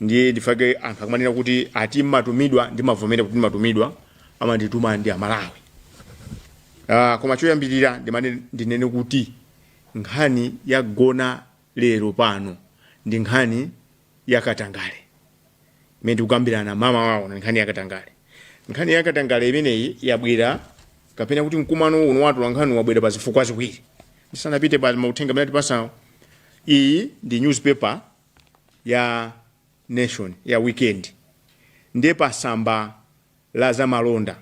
ndiye ndifake anthu akumanena kuti ati mumatumidwa ndimavomera kuti ndimatumidwa amandituma ndi amalawi Ah, koma choyambirira ndimane ndinene kuti nkhani yagona lero pano ndi nkhani yakatangale imene tikukambirana mmawa uno ndi nkhani yakatangale nkhani yakatangale imeneyi yabwera kapena kuti mkumano uno wa atolankhani wabwera pa zifukwa ziwiri ndisanapite pa mauthenga amene atipasawo iyi ndi newspaper ya Nation ya weekend ndiye pa samba la zamalonda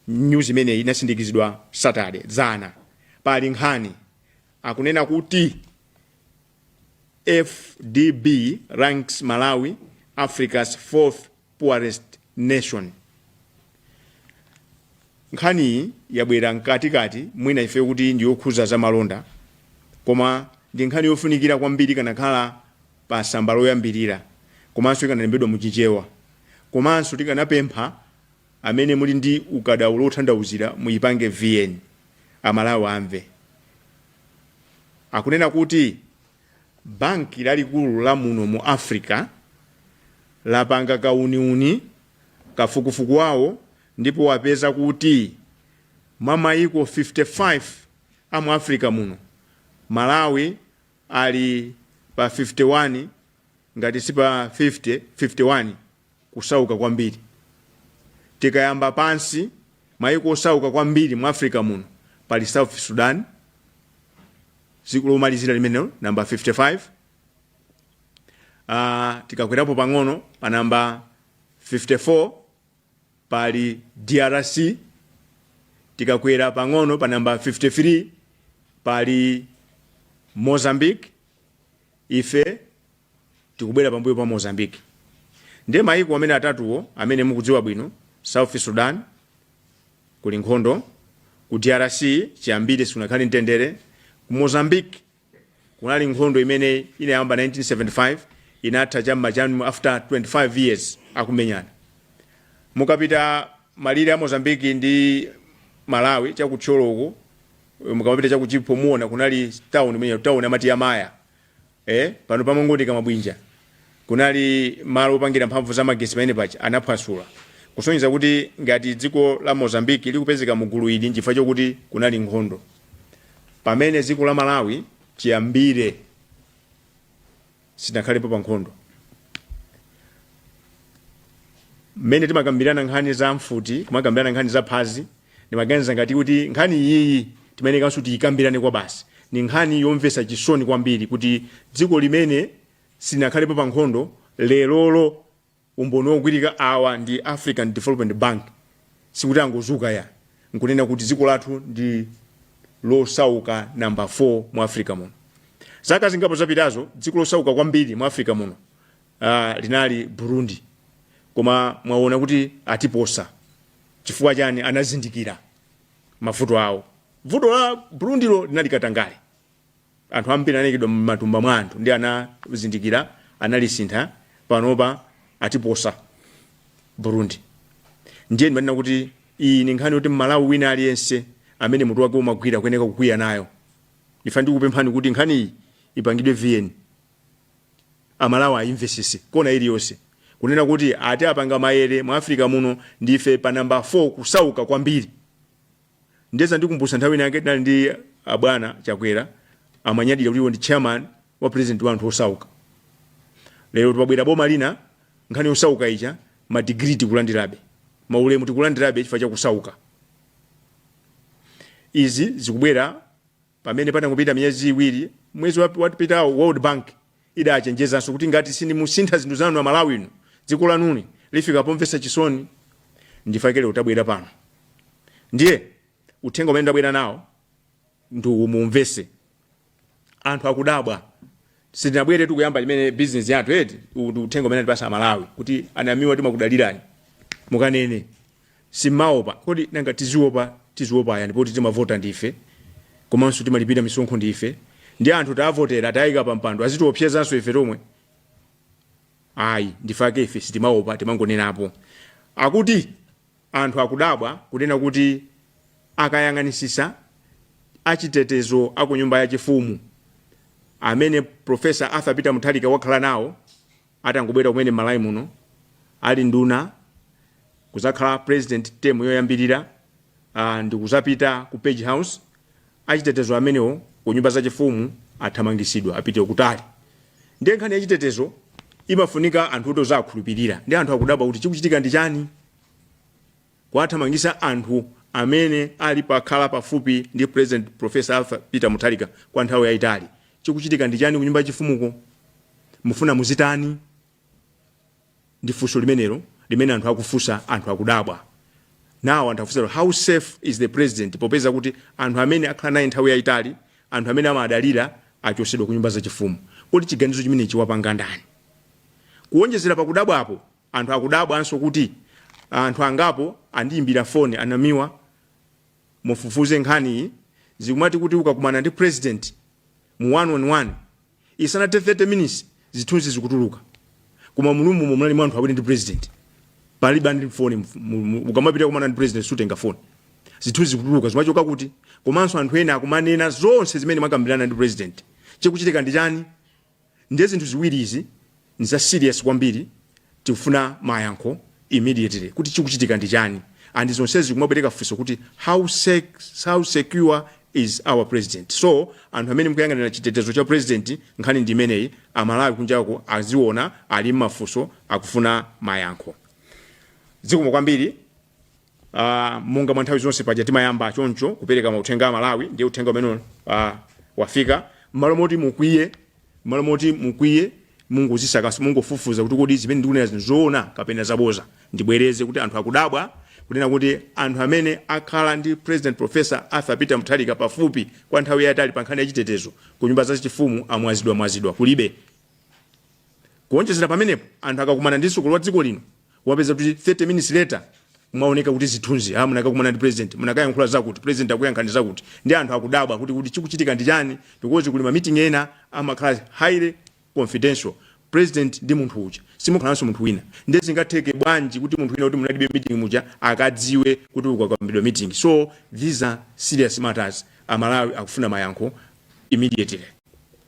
news imeneyi inasindikizidwa Saturday dzana pali nkhani akunena kuti AfDB ranks Malawi Africa's fourth poorest nation. Nkhaniyi yabwera mkatikati mwina ife kuti ndiyokhuza zamalonda koma ndi nkhani yofunikira kwambiri ikanakhala pa samba loyambirira komanso ikanalembedwa mu chichewa komanso tikanapempha amene muli ndi ukadaulo otanthauzira muyipange vn amalawi amve. Akunena kuti Banki lalikulu la muno mu Africa lapanga kauniuni, kafukufuku wawo, ndipo wapeza kuti mwa maiko 55 a mu Africa muno, Malawi ali pa 51 ngati si pa 50, 51. kusauka kwambiri. Tikayamba pansi, maiko osauka kwambiri mu Africa muno pali South Sudan, dziko lomalizira limenelo, namba 55. Ah, tikakwerapo pang'ono pa namba 54 pali DRC, tikakwera pang'ono pa namba 53 pali Mozambique, ife tikubwera pambuyo pa Mozambique nde maiko amene atatuwo amene mukudziwa bwino South Sudan kuli nkhondo ku drc chiyambire sikunakhale mtendere ku Mozambique kunali nkhondo imene inayamba 1975 inatha cha m'ma chani after 25 years akumenyana mukapita malire a Mozambique ndi Malawi cha ku Thyolo uko mukamapita cha ku Chipo muona kunali town imene town amati ya Maya ee pano pamangooneka mabwinja kunali malo opangira mphamvu za magetsi pamene paja anaphwasula kusonyeza kuti ngati dziko la mozambique likupezeka mu gulu ili nchifukwa chokuti kunali nkhondo pamene dziko la malawi chiyambire silinakhalepo pa nkhondo mmene timakambirana nkhani za mfuti kumakambirana nkhani za Phanzi Ndimaganiza ngati kuti nkhani iyiyi timayenekanso tiikambirane kwabasi. Ndi nkhani yomvetsa chisoni kwambiri kuti dziko limene silinakhalepo pa nkhondo lerolo umboni wogwirika awa ndi African Development Bank sikuti angozuka ayi n'kunena kuti dziko lathu ndi losauka namba 4 mu Africa muno. Zaka zingapo zapitazo, dziko losauka kwambiri mu Africa muno uh, linali burundi koma mwaona kuti atiposa chifukwa chani anazindikira mavuto awo vuto la burundilo linali katangale anthu ambiri anayikidwa m'matumba mwa anthu ndiye anazindikira analisintha panopa atiposa burundi ndiye ndimanena kuti iyi ni nkhani yoti mmalawi wina aliyense amene mutu wake umagwira kuyeneka kukwiya nayo ife ndikupemphani kuti nkhaniyi ipangidwe vn amalawi ayimvesese kona iliyonse kunena kuti ati apanga mayere mu africa muno ndife pa namba 4 kusauka kwambiri nde zandikumbusa nthawi inake tinali ndi abwana chakwera amanyadira kuti iwo ndi chairman wa president wa anthu osauka lero tubabwera boma lina nkhani yosauka ija madigiri tikulandirabe maulemu tikulandirabe chifukwa chakusauka izi zikubwera Pamene patangopita miyezi iwiri, mwezi wapitawo World Bank idachenjezanso kuti ngati simusintha zinthu zanu a Malawi inu, dziko lanuli lifika pomvetsa chisoni. Ndifake lero tabwera pano. Ndiye uthenga umene ndabwera nawo ndi uwu muumvetse. Anthu akudabwa. Sitinabweretu kuyamba chimene business yathu eti uwu ndi uthenga umene atipasa amalawi kuti a Namiwa timakudalirani mukanene simmaopa kodi nanga tiziopa tiziopa ayani poti timavota ndife komanso timalipira misonkho ndife nde anthu taavotera taika pa mpando azitiopsezanso ife tomwe ayi ndifake ife sitimaopa timangonenapo akuti Anthu akudabwa kunena kuti akayang'anisisa achitetezo a ku nyumba ya chifumu amene Prof. Arthur Peter Mutharika wakhala nawo atangobwera kumene m'Malawi muno ali nduna kuzakhala President term yoyambirira ndikuzapita ku Page House achitetezo amenewo ku nyumba za chifumu athamangisidwa apite kutali ndiye nkhani ya chitetezo imafunika anthu oti ukuwakhulupirira nde anthu akudabwa kuti chikuchitika ndi chani kuwathamangisa anthu amene ali pakhala pafupi ndi president professor arthur peter mutharika kwa nthawi yayitali chikuchitika ndi chani ku nyumba ya chifumuko mufuna muzitani ndi funso limenelo limene anthu akufunsa anthu akudabwa now anthu akufunsa kuti how safe is the president popeza kuti anthu amene akhala naye nthawi yayitali anthu amene amadalira achosedwa ku nyumba zachifumu kodi chiganizo chimenechi wapanga ndani kuwonjezera pakudabwapo anthu akudabwanso kuti anthu angapo andiyimbira foni a Namiwa mufufuze nkhaniyi zikumatheka kuti ukakumana ndi president mu one on one Isanathe 30 minutes zithunzi zikutuluka koma mu room-mo munali mwa anthu awiri ndi president palibe ali ndi phone mf- mu- mu- ukamapita kukumana ndi president sutenga phone zithunzi zikutuluka zimachoka kuti komanso anthu ena akumanena zonse zimene mwakambirana ndi president chikuchitika ndi chani ndiye zinthu ziwiri izi Nza serious kwambiri tikufuna mayankho immediately kuti chikuchitika ndi chani and zonsezi zikumabweretsa funso kuti how sec how secure is our president so anthu amene mukuyang'anira chitetezo cha president nkhani ndi imeneyi amalawi kunjako aziona ali mmafunso akufuna mayankho zikomo kwambiri uh, monga mwa nthawi zonse paja timayamba choncho kupereka mauthenga amalawi ndiye uthenga umene uh, wafika mmalo moti mukwiye mmalo moti mukwiye mungozisaka so mungofufuza kuti kodi zimene ndikunena zinthu zoona kapena zaboza ndibwereze kuti anthu akudabwa kunena kuti anthu amene akhala ndi president professor arthur peter mutharika pafupi kwa nthawi yayitali pa nkhani ya chitetezo ku nyumba za chifumu amwazidwa mwazidwa kulibe kuonjezera pamenepo anthu akakumana ndi mtsogoleri wa dziko lino kumapezeka kuti 30 minutes later mwaoneka kuti zithunzi ah munakakumana ndi president munakayankhula zakuti president anakuyankhani zakuti nde anthu akudabwa kuti kuti chikuchitika ndi chani because kuli ma meeting ena amakhala highly confidential president ndi munthu uja simukhalanso munthu wina ndiye zingatheke bwanji kuti munthu wina woti munalibe mu meeting muja akadziwe kuti zokambidwa mu meeting so these are serious matters amalawi akufuna mayankho immediately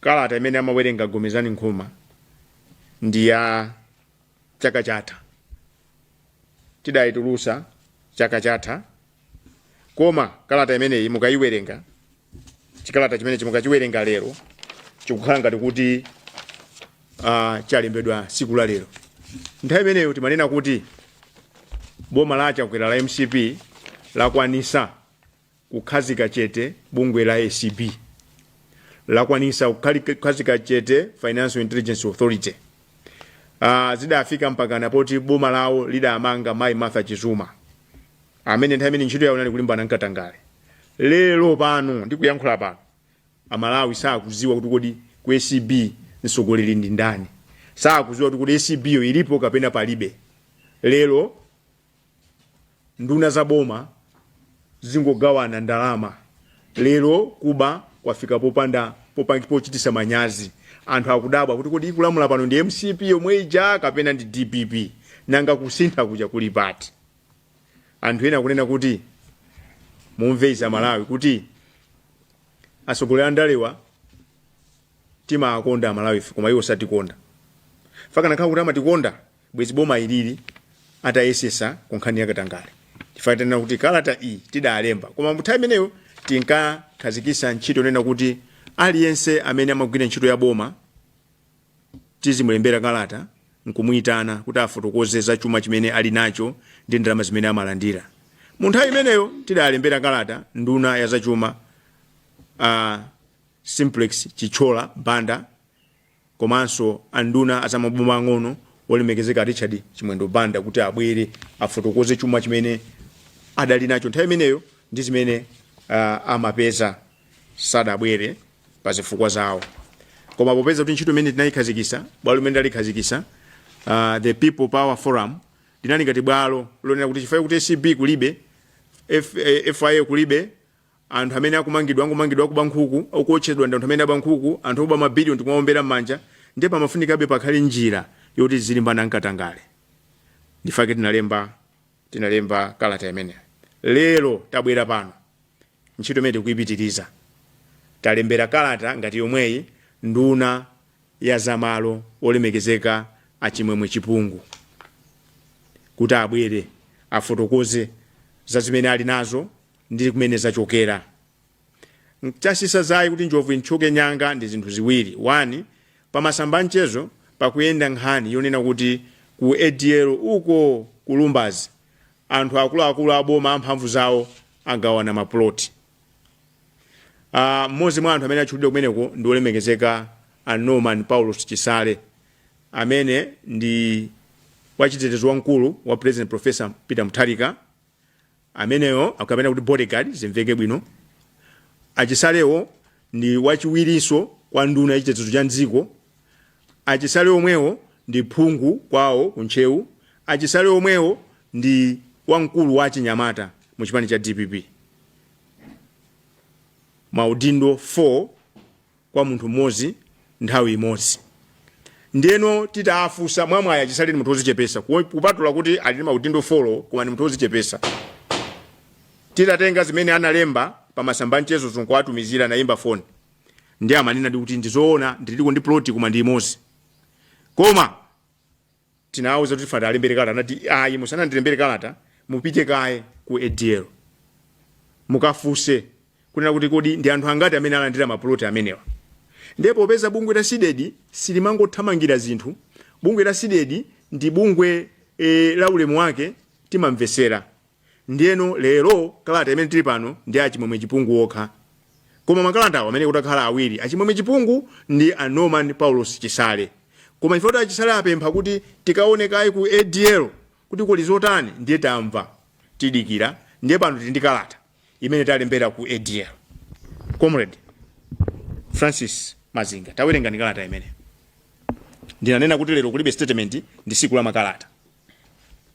Kalata imene amawerenga Gomezani Nkhoma ndi ya chaka chatha, tidaitulutsa chaka chatha koma kalata imeneyi mukayiwerenga, chikalata chimenechi mukachiwerenga lero chikukhala ngati kuti uh, chalembedwa tsiku la lero. Nthawi imeneyo timanena kuti boma la Chakwera la mcp lakwanitsa Kukhazika chete bungwe la acb lakwanisa kukhazika chete Financial Intelligence Authority. Uh, zidafika mpakana poti boma lawo lidamanga Mai Martha Chizuma amene nthawi imeneyo ntchito yawo inali kulimbana nkatangale. Lero pano ndikuyankhula pano Amalawi sakuziwa kuti kodi ku acb mtsogoleri ndi ndani, sakuziwa kuti kodi acb yo ilipo kapena palibe lero nduna za boma zingogawana ndalama lero kuba kwafika popanda popangi pochitisa manyazi anthu akudabwa kuti kodi ikulamula pano ndi mcp yomwe ija kapena ndi dpp nanga kusintha kuja kuli pati anthu ena akunena kuti mumve izi amalawi kuti atsogoleri andalewa timakonda amalawife koma iwo satikonda chifukwa akanakhala kuti amatikonda bwezi boma ilili litayesesa ku nkhani ya katangale chifukwa tanena kuti kalata iyi tidalemba koma muthawi imeneyo tinkakhazikisa ntchito yonena kuti aliyense amene amagwira ntchito ya boma tizimulembera kalata nkumuyitana kuti afotokoze za chuma chimene ali nacho ndi ndalama zimene amalandira mu nthawi imeneyo tidalembera kalata nduna ya zachuma uh, simplex chithyola banda komanso a nduna a za maboma ang'ono olemekezeka a Richard Chimwendo Banda kuti abwere afotokoze chuma chimene adali nacho nthawi imeneyo ndi zimene uh, amapeza sadabwere pa zifukwa zawo koma popeza kuti ntchito imene tinayikhazikisa bwalo limene tidalikhazikisa uh, the people power forum linali ngati bwalo lonena kuti chifukwa kuti acb kulibe F, eh, fia kulibe Anthu amene akumangidwa angomangidwa akuba nkhuku, akuotchedwa ndi anthu amene aba nkhuku, anthu oba ma billion tikumaombera mmanja, ndiye pamafunikabe pakhale njira yoti tizilimbana nkatangale. Ndifake tinalemba tinalemba kalata imeneyo. Lero tabwera pano ntchito imene tikuipitiliza. Talembera kalata ngati yomweyi nduna ya za malo olemekezeka a Chimwemwe Chipungu kuti abwere afotokoze za zimene ali nazo, ndi kumene zachokera. N'chachititsa zazi kuti njovu ithyoke mnyanga ndi zinthu ziwiri, 1 Pamasamba a mchezo pakuyenda nkhani yonena kuti ku ADL uko ku Lumbazi anthu akuluakulu a boma amphamvu zawo agawana mapuloti. Mmodzi mwa anthu amene atchulidwa kumeneko ndi wolemekezeka a Norman Paulos Chisale amene ndi wachitetezo wamkulu wa Pulezidenti Professor Peter Mutharika. ameneyo kapena kuti bodyguard zimveke bwino achisalewo ndi wachiwirinso kwa nduna ya chitetezo cha mdziko achisale omwewo ndi phungu kwawo ku ntcheu achisale omwewo ndi wamkulu wa achinyamata mu chipani cha dpp maudindo 4 kwa munthu mmodzi nthawi imodzi ndiyeno titafunsa mwamwayi achisale ndi munthu wozichepesa kupatula kuti ali ndi maudindo folo koma ndi munthu wozichepesa titatenga zimene analemba pa masamba amchezo nkuwatumizira anayimba foni ndi amanenadi kuti ndizoona ndiliko ndi ploti koma ndi imodzi koma tinawauza kuti tikufuna tiwalembere kalata anati ayi musanandilembere kalata mupite kaye ku adl mukafunse kunena kuti kodi ndi anthu angati amene alandira mapuloti amenewa ndiye popeza bungwe la CDEDI silimangothamangira zinthu bungwe la CDEDI ndi bungwe e, la ulemu wake timamvesera Ndiyeno, lero, kalata imene tiri pano ndi a Chimwemwe Chipungu okha. Koma makalata awa amayenekera atakhala awiri, a Chimwemwe Chipungu ndi a Norman Paulos Chisale. Koma chifukwa kuti a Chisale apempha kuti tikaone kaye ku ADL kuti kuli zotani, ndiye tamva, tidikira, ndiye pano tiri ndi kalata imene talembera ku ADL. Comrade Francis Mazinga, tawerengani kalata imeneyo. Ndinanena kuti lero kulibe statement, ndi tsiku la makalata.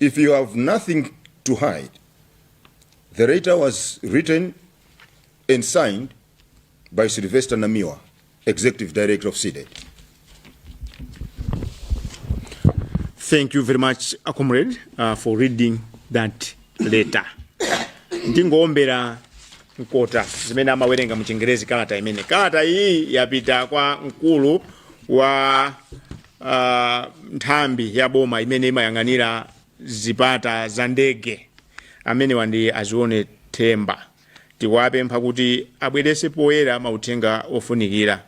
If you have nothing to hide, the letter was written and signed by Sylvester Namiwa, Executive Director of CDEDI. Thank you very much, uh, comrade, uh, for reading that letter. ndingowombera mkota zimene amawerenga mu chingerezi kalata imene kalata iyi yapita kwa mkulu wa nthambi ya boma imene imayang'anira zipata za ndege amenewa ndi a zione themba tikuwapempha kuti abwerese poyera mauthenga ofunikira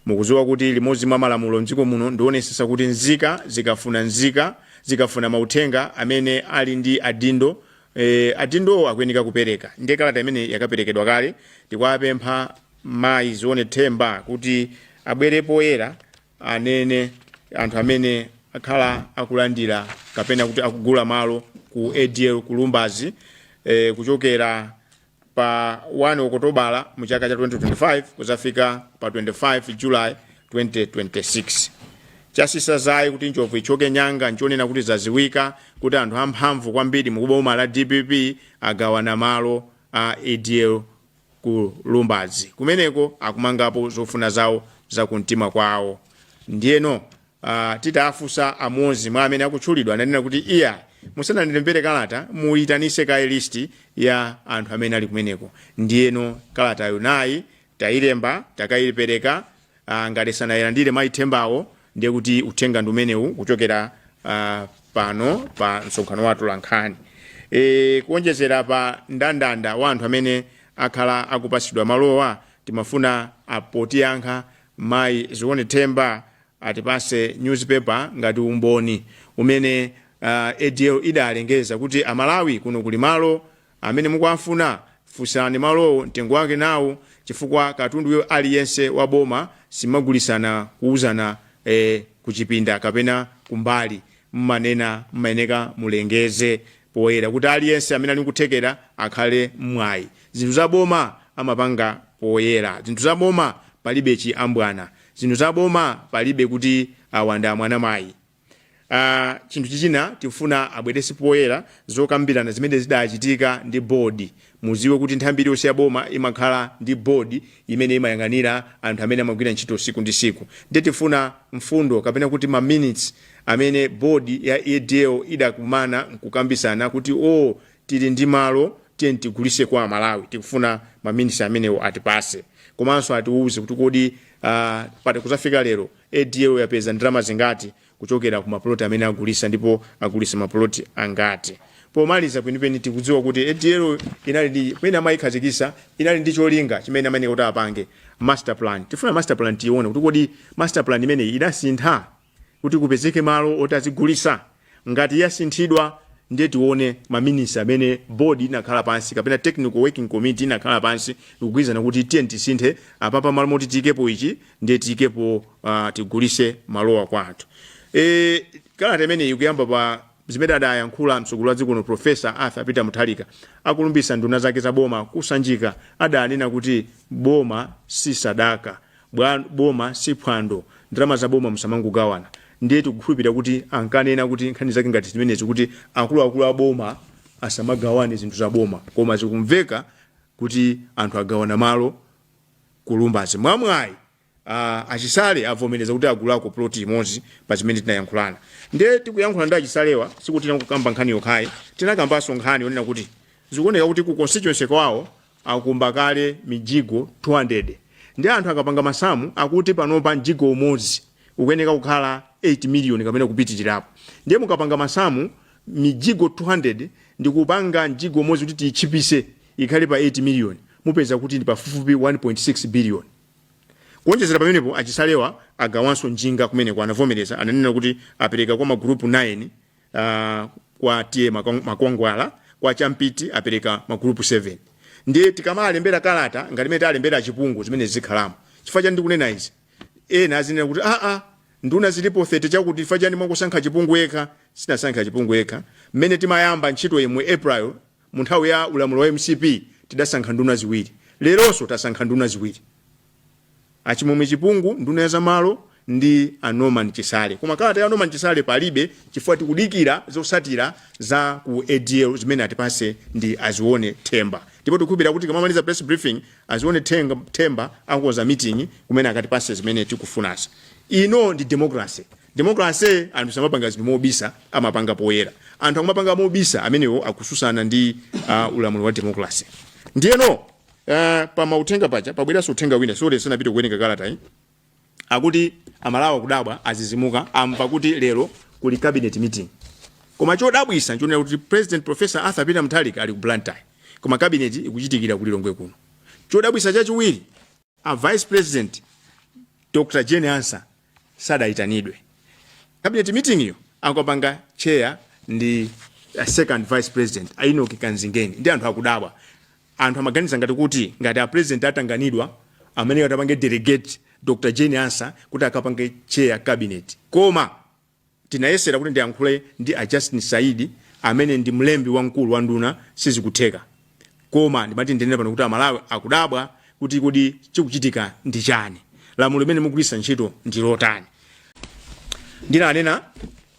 mukuziwa kuti limodzi mwa malamulo mdziko muno ndionesesa kuti nzika zikafuna nzika zikafuna mauthenga amene ali ndi adindo e, adindowo akuyeneka kupereka ndiye kalata imene yakaperekedwa kale tikuwapempha mayi zione themba kuti abwere poyera anene anthu amene akhala akulandira kapena kuti akugula malo ku adl ku lumbazi eh, kuchokera pa 1 okotobala mu chaka cha 2025 kuzafika pa 25 july 2026 chatsitsa dzaye kuti njovu ichoke nyanga nchonena kuti zaziwika kuti anthu amphamvu kwambiri mu boma la dpp agawana malo a adl ku Lumbadzi. Kumeneko akumangapo zofuna zawo za kumtima kwawo. Ndiyeno ah, titafunsa amodzi mwa amene akutchulidwa ananena kuti iyayi musanandilembere kalata muyitanise kaye listi ya anthu amene ali kumeneko. Ndiyeno kalatayo nayi tayilemba takayipereka uh, ngati sanailandire mayi thembawo ndiye kuti uthenga ndi umenewu kuchokera uh, pano pa msonkhano wa atolankhani e, kuonjezera pa ndandanda wa anthu amene akhala akupatsidwa malowa timafuna apo potiyankha mayi zione themba atipase newspaper ngati umboni umene uh, adl idalengeza kuti amalawi kuno kuli malo Amene mukuwafuna funsani malowo mtengo wake nawo chifukwa katundu aliyense wa boma simagulisana kuuzana ee kuchipinda kapena kumbali mmanena mmayeneka mulengeze poyera kuti aliyense amene ali nkuthekera akhale ndi mwayi zinthu za boma amapanga poyera zinthu za boma palibe chiambwana zinthu za boma palibe kuti awa ndi amwana mayi Uh, chinthu chichina tifuna abwerese poyera zokambirana zimene zidachitika ndi board muziwe kuti nthambi iliyonse ya boma imakhala ndi board imene imayang'anira anthu amene amagwira ntchito siku ndi siku ndiye tifuna mfundo kapena kuti ma minutes amene board ya adl idakumana nkukambisana kuti o oh, tili ndi malo tiyeni tigulise kwa Amalawi tikufuna ma minutes amenewo atipase komanso atiuze kuti kodi uh, pati kuzafika lero ADL yapeza ndalama zingati kuchokera ku ma plot amene agulisa ndipo agulisa ma plot angati? Pomaliza kwenikweni tikudziwa kuti ADL inali ndi pamene amayikhazikisa inali ndi cholinga chimene amayeneka kuti apange master plan. Tifuna master plan tione kuti kodi master plan imeneyi idasintha kuti kupezeke malo oti azigulisa? ngati yasinthidwa ndiye tione ma minutes amene board inakhala pansi kapena technical working committee inakhala pansi nkugwirizana kuti tiye tisinthe apapa malo moti tiyikepo ichi ndiye tiyikepo uh, tigulise malowa kwa anthu e, kalata imeneyi ikuyamba pa zimene adayankhula mtsogoleri wa dziko lino profesa Arthur Peter Mutharika akulumbisa nduna zake za boma ku Sanjika adanena kuti boma si sadaka boma si phwando ndalama za boma musamangogawana ndiye tikukhulupirira kuti ankanena kuti nkhani zake ngati zimenezi kuti akuluakulu a boma asamagawane zinthu za boma koma zikumveka kuti anthu agawana malo ku Lumbadzi mwamwayi uh, a Chisale avomereza kuti agulako ploti imodzi pa zimene tinayankhulana ndiye tikuyankhula ndi a Chisalewa sikuti tinakukamba nkhani yokhayi tinakambanso nkhani yonena kuti zikuoneka kuti ku constituency kwawo akumba kale mijigo 200 nde anthu akapanga masamu akuti panopa mjigo umodzi ukuyeneka kukhala 8 million kapena kupitirirapo ndiye mukapanga masamu mijigo 200 ndikupanga mjigo umodzi kuti titchipise ikhale pa 8 million mupeza kuti ndi pafupifupi 1.6 billion kuonjezera pamenepo a Chisalewa agawanso njinga kumeneko anavomereza ananena kuti apereka kwa magulupu 9 Uh, kwa T/A Makwangwala kwa Champiti apereka magulupu 7 ndiye tikamalembera kalata ngati mene talembera Chipungu zimene zikhalamo chifukwa chani ndikunena izi ena azinena kuti aa nduna zilipo 30 chakuti chifukwa chani mwangosankha Chipungu yekha sitinasankhe Chipungu yekha mmene timayamba ntchito imeneyi april mu nthawi ya ulamuliro wa MCP tidasankha nduna ziwiri leronso tasankha nduna ziwiri a Chimwemwe Chipungu, nduna ya za malo ndi a Norman Chisale. Koma kalata ya Norman Chisale palibe chifukwa tikudikira zotsatira za ku ADL zimene atipatse ndi a Zione Themba. Ndipo tikukhulupirira kuti tikamamaliza press briefing, a Zione Theng- Themba akonza meeting kumene akatipatse zimene tikufunazi. Ino ndi democracy. Democracy anthu samapanga zinthu mobisa, amapanga poyera. Anthu akumapanga mobisa amenewo akutsutsana ndi uh, ulamuliro wa democracy. Ndiyeno Uh, pa mauthenga paja pabweranso uthenga winanso ndisanapite kuwerenga kalata yi akuti Amalawi akudabwa azizimuka amva kuti lero kuli cabinet meeting koma chodabwisa nchonena kuti president professor Arthur Peter Mutharika ali ku Blantyre koma cabinet ikuchitikira ku Lilongwe kuno chodabwisa chachiwiri a vice president Dr. Jane Ansah sadaitanidwe. Cabinet meeting yo akapanga chair ndi a second vice president a Enoch Kanzingeni ndiye anthu akudabwa. Anthu amaganiza ngati kuti ngati a president atanganidwa amene atapanga delegate Dr. Jane Ansah kuti akapange chair cabinet. Koma Ndinayesera kuti ndiyankhule ndi a Justin Saidi amene ndi mlembi wamkulu wa nduna sizikutheka. Koma ndimati ndinene pano kuti Amalawi akudabwa kuti kodi chikuchitika ndi chani? Lamulo limene mukugwiritsa ntchito ndi lotani? Ndinanena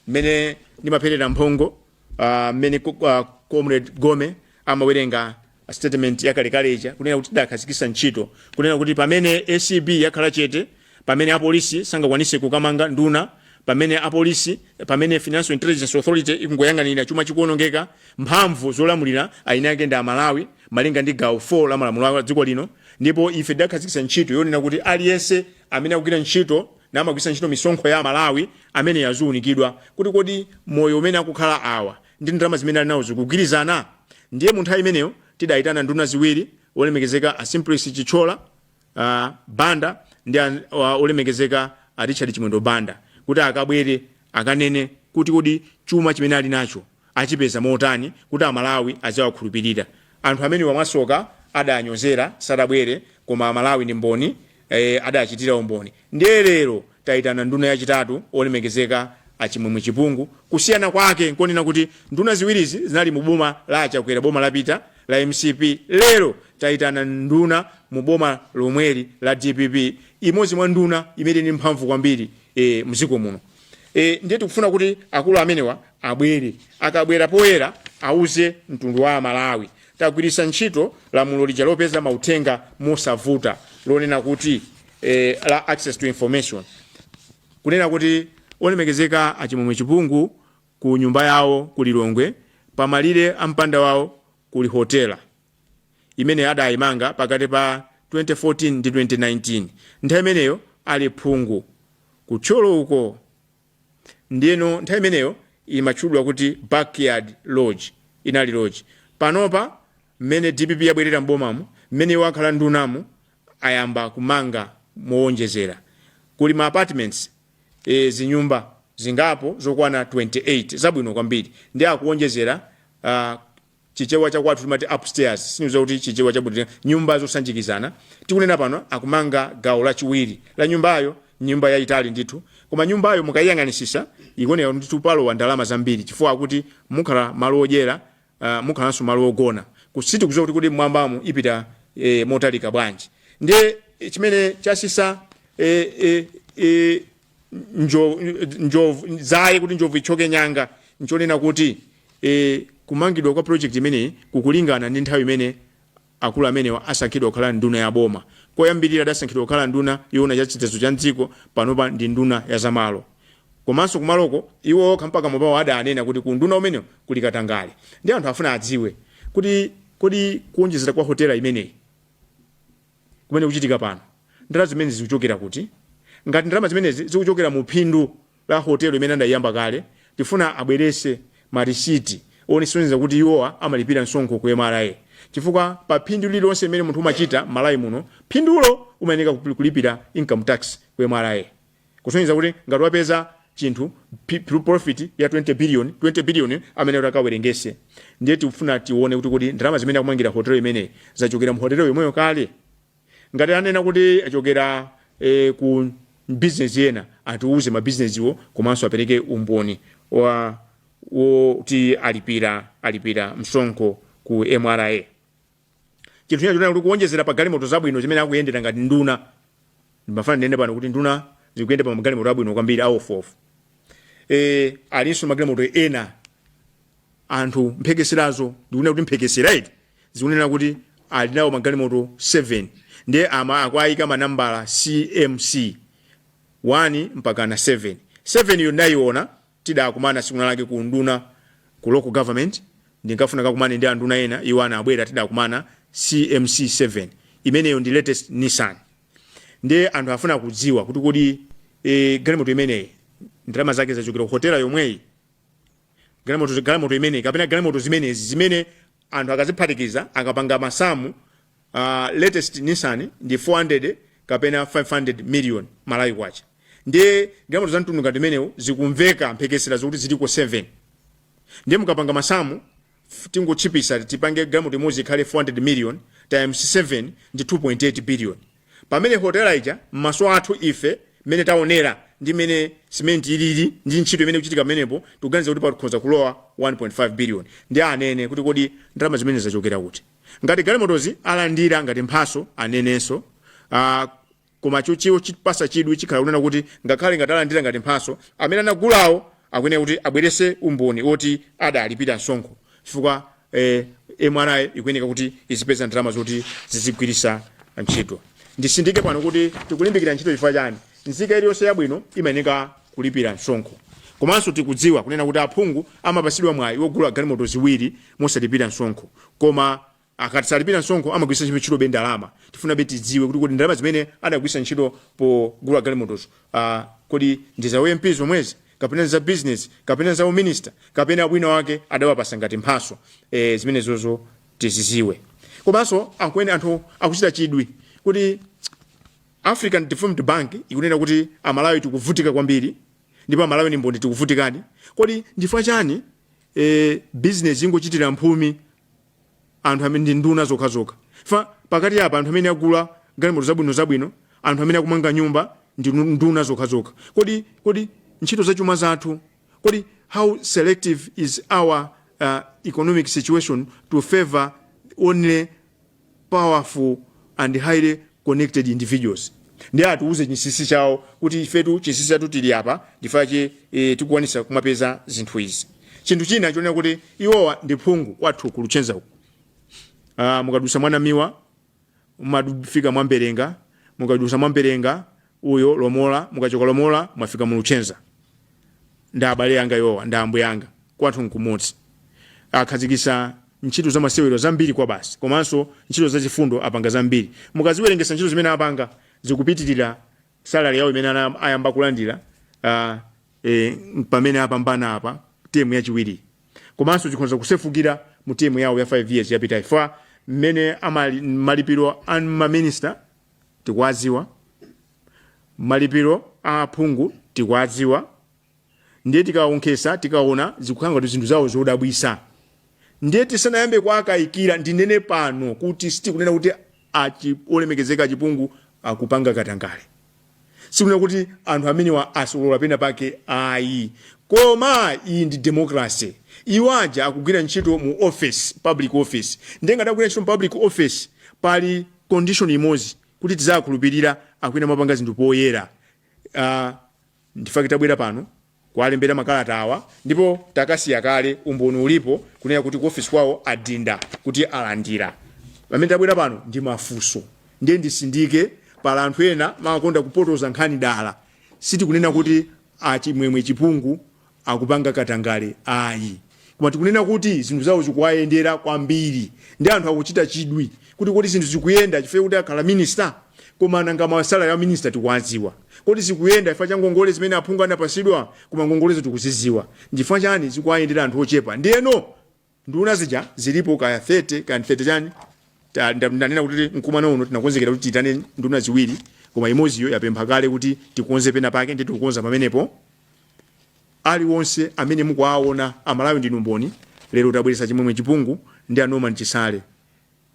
mmene ndimapherezera mphongo, ah, mmene ko- ah, Comrade Gome amawerenga statement yakalekale ija kunena kuti tidakhazikisa ntchito kunena kuti pamene ACB yakhala chete pamene apolisi sangakwanise kukamanga nduna pamene apolisi pamene financial intelligence authority ikungoyang'anira chuma chikuonongeka mphamvu zolamulira eni ake ndi amalawi malinga ndi gawo 4 la malamulo a dziko lino ndipo ife tidakhazikisa ntchito yonena kuti aliyense amene akugwira ntchito namagwiritsa ntchito misonkho ya amalawi ameneyo aziunikidwa kuti kodi moyo umene akukhala awa ndi ndalama zimene ali nawo zikugwirizana? Ndiye mu nthawi imeneyo tidaitana nduna ziwiri, Olemekezeka a Simplex Chithyola Banda ndi a Olemekezeka a Richard Chimwendo Banda kuti akabwere akanene kuti kodi chuma chimene ali nacho achipeza motani kuti Amalawi aziwakhulupirira. Anthu amenewa mwasoka adanyozera, sadabwere koma Amalawi ndi mboni, e, adachitira umboni. Ndiye lero Taitana nduna yachitatu, Olemekezeka a Chimwemwe Chipungu, kusiyana kwake nkonena kuti nduna ziwirizi zinali mu boma la a Chakwera boma lapita la MCP lero taitana nduna mu boma lomweli la DPP imodzi mwa nduna imene ili ndi mphamvu kwambiri e, mziko muno e, ndiye tikufuna kuti akulu amenewa abwere akabwere poyera auze mtundu wa Malawi Tagwiritsa ntchito lamulo lija lopeza mauthenga mosavuta lonena kuti eh, la access to information kunena kuti olemekezeka a Chimwemwe Chipungu ku nyumba yawo ku Lilongwe pamalire a mpanda wawo kuli hotela imene adayimanga pakati pa 2014 ndi 2019 nthawi imeneyo ali phungu ku Thyolo uko Ndiyeno nthawi imeneyo imatchulwa kuti backyard lodge. Inali lodge. Panopa mmene dpp yabwerera m'bomamu, mmene iwo akhala ndunamu ayamba kumanga moonjezera. Kuli ma apartments, eh, zinyumba zingapo zokwana 28 zabwino kwambiri. Ndiye akuwonjezera uh, Chichewa cha kwathu timati upstairs, sindidziwa kuti Chichewa cha bwino, nyumba zosanjikizana. Tikunena pano akumanga gawo lachiwiri la nyumbayo, nyumba yayitali ndithu. Koma nyumbayo mukayiyang'anitsitsa ikuoneka kuti ndithu palowa ndalama zambiri chifukwa akuti mukhala malo odyera, uh, mukhalanso malo ogona. Ku, sitikudziwa kuti kodi m'mwambamu ipita eh, motalika bwanji. Ndiye chimene chatsitsa eh, eh, eh, njo- njovu dzaye kuti njovu ithyoke nyanga nchonena kuti e, kumangidwa kwa project imeneyi kukulingana ndi nthawi imene akulu amenewa asankhidwa kukhala nduna ya boma koyambirira adasankhidwa kukhala nduna yoona za chitetezo cha mdziko panopa ndi nduna ya zamalo komanso kumaloko iwo okha pakamwa pawo adanena kuti ku unduna umenewo kuli katangale ndiye anthu afuna adziwe kuti kodi kuonjezera kwa hotela imeneyi kumene kukuchitika pano, ndalama zimenezi zikuchokera kuti? Ngati ndalama zimenezi zikuchokera mu phindu la hotelo imene anaiyamba kale, tifuna abweretse ma risiti osonyeza kuti iwowa amalipira msonkho ku mra chifukwa pa phindu lililonse limene munthu umachita m'Malawi muno, phindulo umayenera kulipira income tax ku mra. kusonyeza kuti ngati wapeza chinthu pi- pi- profit ya 20 billion 20 billion amene uti ukawerengetse ndiye tikufuna tione kuti kodi ndalama zimene akumangira hotelo imeneyi zachokera mu hotelo yomweyo kale ngati anena kuti zachokera eh, ku bizinesi ina atiuze mabizinesiwo komanso apereke umboni woti alipira alipira msonkho ku mra chinthu china chonena kuti kuwonjezera pa galimoto zabwino zimene akuyendera ngati nduna ndimafuna ndinene pano kuti nduna zikuyenda pa magalimoto abwino kwambiri aofuofu e, alinso ndi magalimoto ena anthu mphekeserazo ndikunena kuti mphekesera iti zikunena kuti ali nawo magalimoto 7 ndiye ama akwayika manambala cmc 1 mpakana 7 7 yo ndayiona Tidakumana tsiku linalake ku unduna, ku local government, ndinkafuna ndikakumane ndi anduna ena, iwo anabwera tidakumana CMC7. Imeneyo ndi latest Nissan. Ndiye anthu afuna kudziwa kuti kodi eh, galimoto imeneyi ndalama zake zachokera ku hotela yomweyi galimoto galimoto imeneyi kapena galimoto zimenezi zimene anthu akaziphatikiza akapanga masamu uh, latest nissan ndi 400 kapena 500 million malawi kwacha ndiye galimoto za mtundu ngati imeneyo zikumveka mphekesera zokuti ziliko 7 ndiye mukapanga masamu f- tingotchipisa tipange galimoto imodzi ikhale 400 million times 7 ndi 2.8 billion pamene hotela ija m'maso athu ife mmene taonera ndi mmene simenti ilili ndi ntchito imene ikuchitika pamenepo tikuganiza kuti pakhoza kulowa 1.5 billion ndi anene kuti kodi ndalama zimene zachokera kuti ngati galimotozi alandira ngati mphaso anenenso uh, koma choti iwo chipasa chidwi chikhala kunena kuti ngakhale ngati alandira ngati mphaso amene anagulawo akuyenera kuti abwerese umboni woti adalipira msonkho chifukwa eh, mra ikuyeneka kuti izipeza ndalama zoti zizigwirisa ntchito ndisindike pano kuti tikulimbikira ntchito chifukwa chani nzika iliyonse yabwino imayeneka kulipira msonkho komanso tikudziwa kunena kuti aphungu amapasidwa mwayi wogula galimoto ziwiri mosalipira msonkho koma akatisalipira msonkho amagwiritsa ntchito ntchitobe ndalama tifunabe tidziwe kuti kodi ndalama zimene adagwiritsa ntchito pogula galimotozo ah, kodi ndi za uMP zomwezi kapena ndi za business kapena ndi za uminista kapena wina wake adawapasa ngati mphaso eh, zimenezozo tiziziwe komanso akunene anthu akuchita chidwi kuti african development bank ikunena kuti amalawi tikuvutika kwambiri ndipo amalawi ni mboni tikuvutikadi kodi ndifukwa chani e business ingochitira mphumi anthu amene ndi nduna zokha zokha fa pakati apa anthu amene agula galimoto zabwino zabwino anthu amene akumanga nyumba ndi nu- nduna zokha zokha kodi kodi ntchito za chuma zathu kodi how selective is our uh, economic situation to favor only powerful and highly connected individuals ndiye atiuze chinsinsi chawo kuti ifetu chinsinsi chathu tili apa ndifache e, tikukwanisa kumapeza zinthu izi chinthu china chonena kuti iwowa ndi phungu kwathu ku luchenza uku Ah, mukadusa mwa Namiwa mumafika mwa Mberenga mukadusa mwa Mberenga uyo lomola mukachoka lomola mwafika mu luchenza ndi abale anga iwowa ndi ambuye anga kwathu nkumodzi akhazikisa ntchito za masewero zambiri kwabasi komanso ntchito za chifundo apanga zambiri mukaziwerengesa ntchito zimene apanga zikupitirira salary yawo imene ana- ayamba kulandira uh, e, pamene apambana apa temu yachiwiri komanso zikhonza kusefukira mu temu yawo ya 5 years yapitayi fa mmene amali- malipiro a maminista tikuwadziwa, malipiro a aphungu tikuwadziwa, ndiye tikawonkhetsa tikaona zikukhala ngati zinthu zawo zodabwitsa ndiye tisanayambe kuwakayikira ndinene pano kuti sitikunena kuti achi- olemekezeka a Chipungu akupanga katangale Sitikunena kuti anthu amenewa asolola pena pake ayi, koma iyi ndi democracy. Iwo aja akugwira ntchito mu office, public office, ndiye ngati akugwira ntchito mu public office pali condition imodzi kuti tidzawakhulupirira, akuyenera kumapanga zinthu poyera. Aaa, ndi chifukwa chake tabwera pano kuwalembera makalata awa ndipo takasiya kale umboni ulipo kunena kuti ku office kwawo adinda kuti alandira pamene tabwera pano ndi mafunso ndiye ndisindike pali anthu ena amakonda kupotoza nkhani dala sitikunena kuti a Chimwemwe Chipungu akupanga katangale ayi Koma tikunena kuti zinthu zawo zikuwayendera kwambiri ndi anthu akuchita chidwi kuti kodi zinthu zikuyenda chifukwa chakuti akhala minister? Koma nanga ma salary a minister tikuwadziwa? Kodi zikuyenda chifukwa cha ngongole zimene aphungu anapatsidwa? Koma ngongolezo tikuzidziwa. Nchifukwa chani zikuwayendera anthu ochepa? Ndiyeno nduna zija zilipo kaya 30 kaya ndi 30 chani, ta, nda, ndanena kuti mkumano uno tinakonzekera kuti tiitane nduna ziwiri koma imodziyo yapempha kale kuti tikonze pena pake ndiye tikukonza pamenepo. aliwonse amene mukuwaona amalawi ndinu mboni lero tabweretsa Chimwemwe Chipungu ndi a Norman Chisale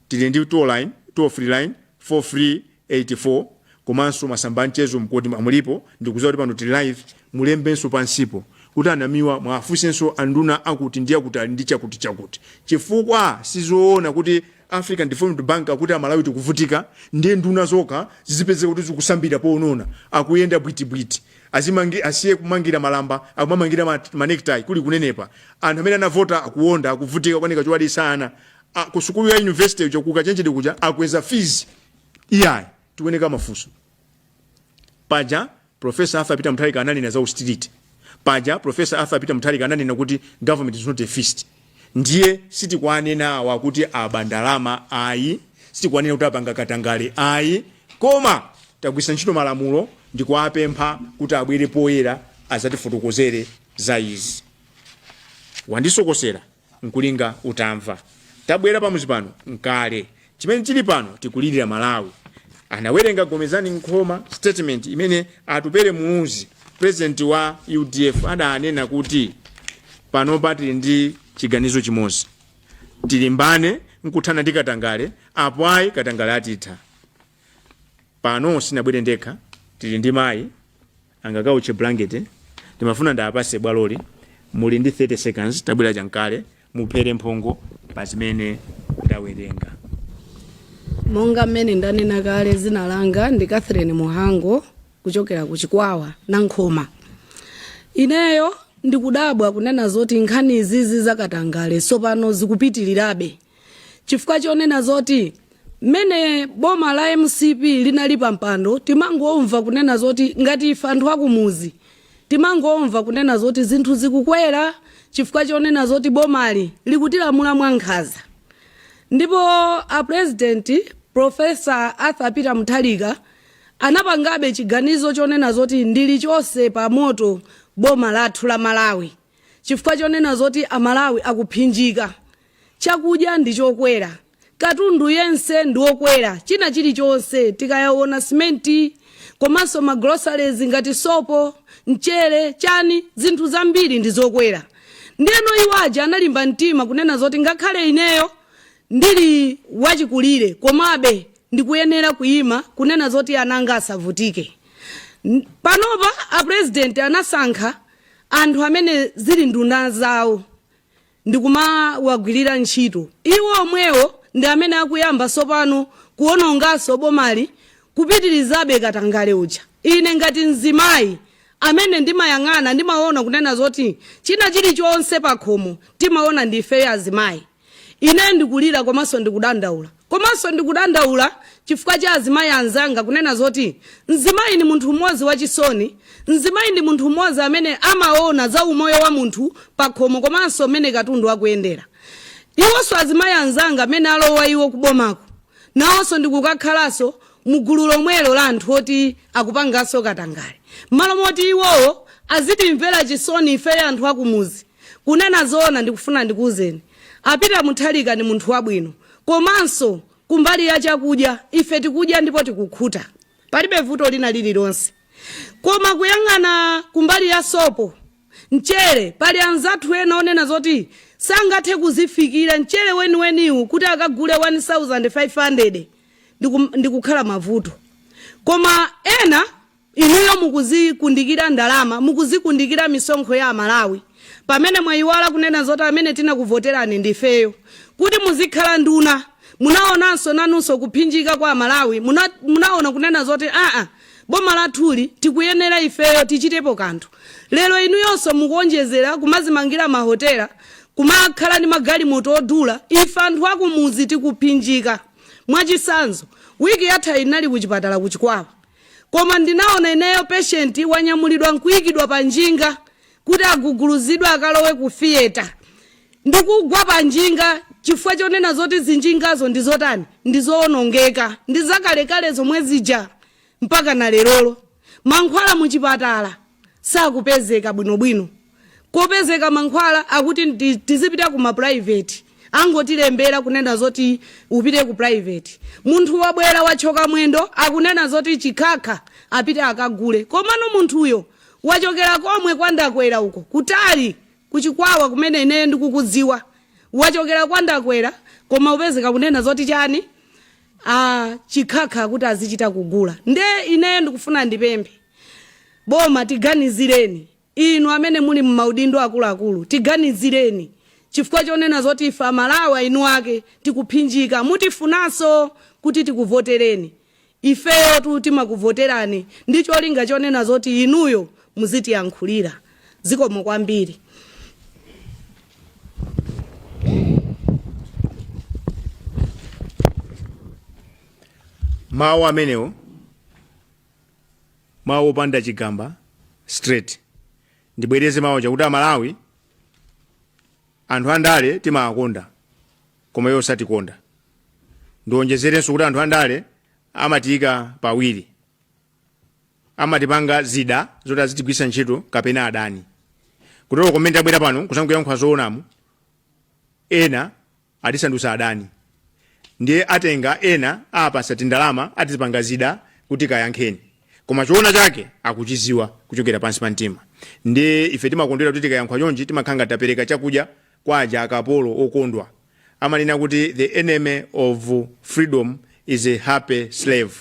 tili ndi toll line toll free line 4384 komanso masamba a mchezo nkuti WhatsApp ilipo ndikudziwa kuti pano tili live mulembenso pansipo kuti a Namiwa muwafunsenso anduna akuti ndi akuti ali ndi chakuti chakuti chifukwa sizoona kuti African Development Bank akuti amalawi tikuvutika ndiye nduna zokha zizipezeka kuti zikusambira ponona akuyenda bwitibwiti Azimangi-, asiye kumangira malamba akumamangira ma, ma necktie kuli kunenepa anthu amene anavota akuwonda akuvutika kukanika chowadyetsa ana a, ku sukulu ya university kuja ku kachenjede kuja akweza fees iyayi tikuyenera kumafunsa paja professor Arthur Peter Mutharika ananena za austerity paja professor Arthur Peter Mutharika ananena kuti government is not a feast Ndiye sitikuwanena awa kuti aba ndalama ayi, sitikuwanena kuti apanga katangale ayi, koma tagwiritsa ntchito malamulo ndikuwapempha kuti abwere poyera azatifotokozere za izi. Wandisokosera nkulinga utamva. Tabwera pamuzi pano nkale Chimene chili pano tikulirira Malawi. Anawerenga Gomezani Nkhoma statement imene Atupele Muluzi president wa UDF adanena kuti panopa tili ndi chiganizo chimodzi. Tilimbane nkuthana ndi katangale apo ayi katangale atitha. Pano sindinabwere ndekha tili ndi mayi angakaotche blanket ndimafuna ndiwapase bwaloli muli ndi 30 seconds tabwerani chankale muphere mphongo pa zimene ndawerenga monga mmene ndanena kale dzina langa ndi catherine muhango kuchokera ku chikwawa na nkhoma ineyo ndikudabwa kunena zoti nkhani izizi za katangale sopano zikupitirirabe chifukwa chonena zoti mmene boma la mcp linali pampando timangomva kunena zoti ngati ife anthu akumuzi timangomva kunena zoti zinthu zikukwera chifukwa chonena zoti bomali likutilamula mwankhaza ndipo a president profesa arthur peter mutharika anapangabe chiganizo chonena zoti ndilichose pa moto boma lathu la malawi chifukwa chonena zoti amalawi akuphinjika Chakudya ndi chokwera, katundu yense ndi okwera, china chilichonse tikayaona cement komanso ma groceries ngati sopo, mchere, chani zinthu zambiri ndi zokwera ndeno iwo aja analimba mtima kunena zoti ngakhale ineyo ndili wachikulire komabe ndikuyenera kuima kunena zoti ana anga asavutike. N- Panopa a president anasankha anthu amene zili nduna zawo ndikumawagwirira ntchito iwo omwewo ndi amene akuyamba sopano kuonongaso bomali kupitilizabe katangale uja ine ngati mzimayi amene ndimayang'ana ndimaona kunena zoti china chilichonse pakhomo timaona ndi ife azimayi ine ndikulira komanso ndikudandaula Komanso ndikudandaula chifukwa cha azimayi anzanga kunena zoti mzimayi ndi munthu mmodzi wachisoni, mzimayi ndi munthu mmodzi amene amaona za umoyo wa munthu pakhomo komanso mmene katundu akuyendera. Iwonso azimayi anzanga amene alowa iwo ku bomaku nawonso ndikukakhalanso mu gulu lomwelo la anthu oti akupanganso katangale. Mmalo moti iwowo azitimvera chisoni ifeyo anthu akumudzi, kunena zoona ndikufuna ndikuuzeni a Peter Mutharika ndi munthu wabwino, Komanso kumbali ya chakudya, ife tikudya ndipo tikukhuta, palibe vuto lina lililonse. Koma kuyang'ana kumbali ya sopo, mchere, pali anzathu ena onena zoti sangathe kuzifikira mchere weniweniwu kuti akagule 1,500 ndikukhala mavuto. Koma ena. Inuyo mukuzikundikira ndalama, mukuzikundikira misonkho ya Amalawi pamene mwayiwala kunena zoti amene tinakuvoterani ndifeyo kuti muzikhala nduna. Munaonanso nanunso kuphinjika kwa Amalawi, munaona kunena zoti aa boma lathuli tikuyenera ifeyo tichitepo kanthu. Lero inuyonso mukuonjezera kumazimangira ma hotela, kumakhala ndi magalimoto odula ife anthu akumudzi tikuphinjika. Mwachisanzo, week yathayi ndinali kuchipatala ku Chikwawa. Koma ndinaona ineyo patient wanyamulidwa nkuikidwa pa njinga kuti agudubuzidwe akalowe ku theatre ndikugwa pa njinga chifukwa chonena zoti zinjingazo ndi zotani ndi zoonongeka ndi zakalekale zomwe zija mpaka na lerolo mankhwala mu chipatala sakupezeka bwinobwino kopezeka mankhwala akuti tizipita ku ma private angotilembera kunena zoti upite ku private munthu wabwera watchyoka mwendo akunena zoti chikhakha apite akagule komano munthuyo wachokera komwe kwandakwera uko kutali kuchikwawa kumene ineyo ndikukudziwa wachokera kwandakwera koma upezeka kunena zoti chani chikhakha kuti azichita kugula nde ineyo ndikufuna ndipemphe boma tiganizireni Inu amene muli mmaudindo akuluakulu tiganizireni chifukwa chonena zoti ife amalawi a inu ake tikuphinjika mutifunanso kuti tikuvotereni? Ifeyotu timakuvoterani ndi cholinga chonena zoti inuyo muzitiyankhulira. Zikomo kwambiri. Mawu amenewo mawu opanda chigamba straight ndibwereze mawu aja kuti amalawi anthu andale timawakonda koma iwo satikonda ndionjezerenso kuti anthu andale amatiyika pawiri amatipanga zida zoti azitigwiritsa ntchito kapena adani kutero ko mene tabwera pano kuzangoyankhula zoonamu ena atisandutsa adani ndiye atenga ena apasa tindalama atipanga zida kuti kayankheni koma choona chake akuchiziwa kuchokera pansi pa mtima ndiye ife timakondwera kuti tikayankhula chonchi timakhala ngati tapereka chakudya kwa aja akapolo okondwa amanena kuti the enemy of freedom is a happy slave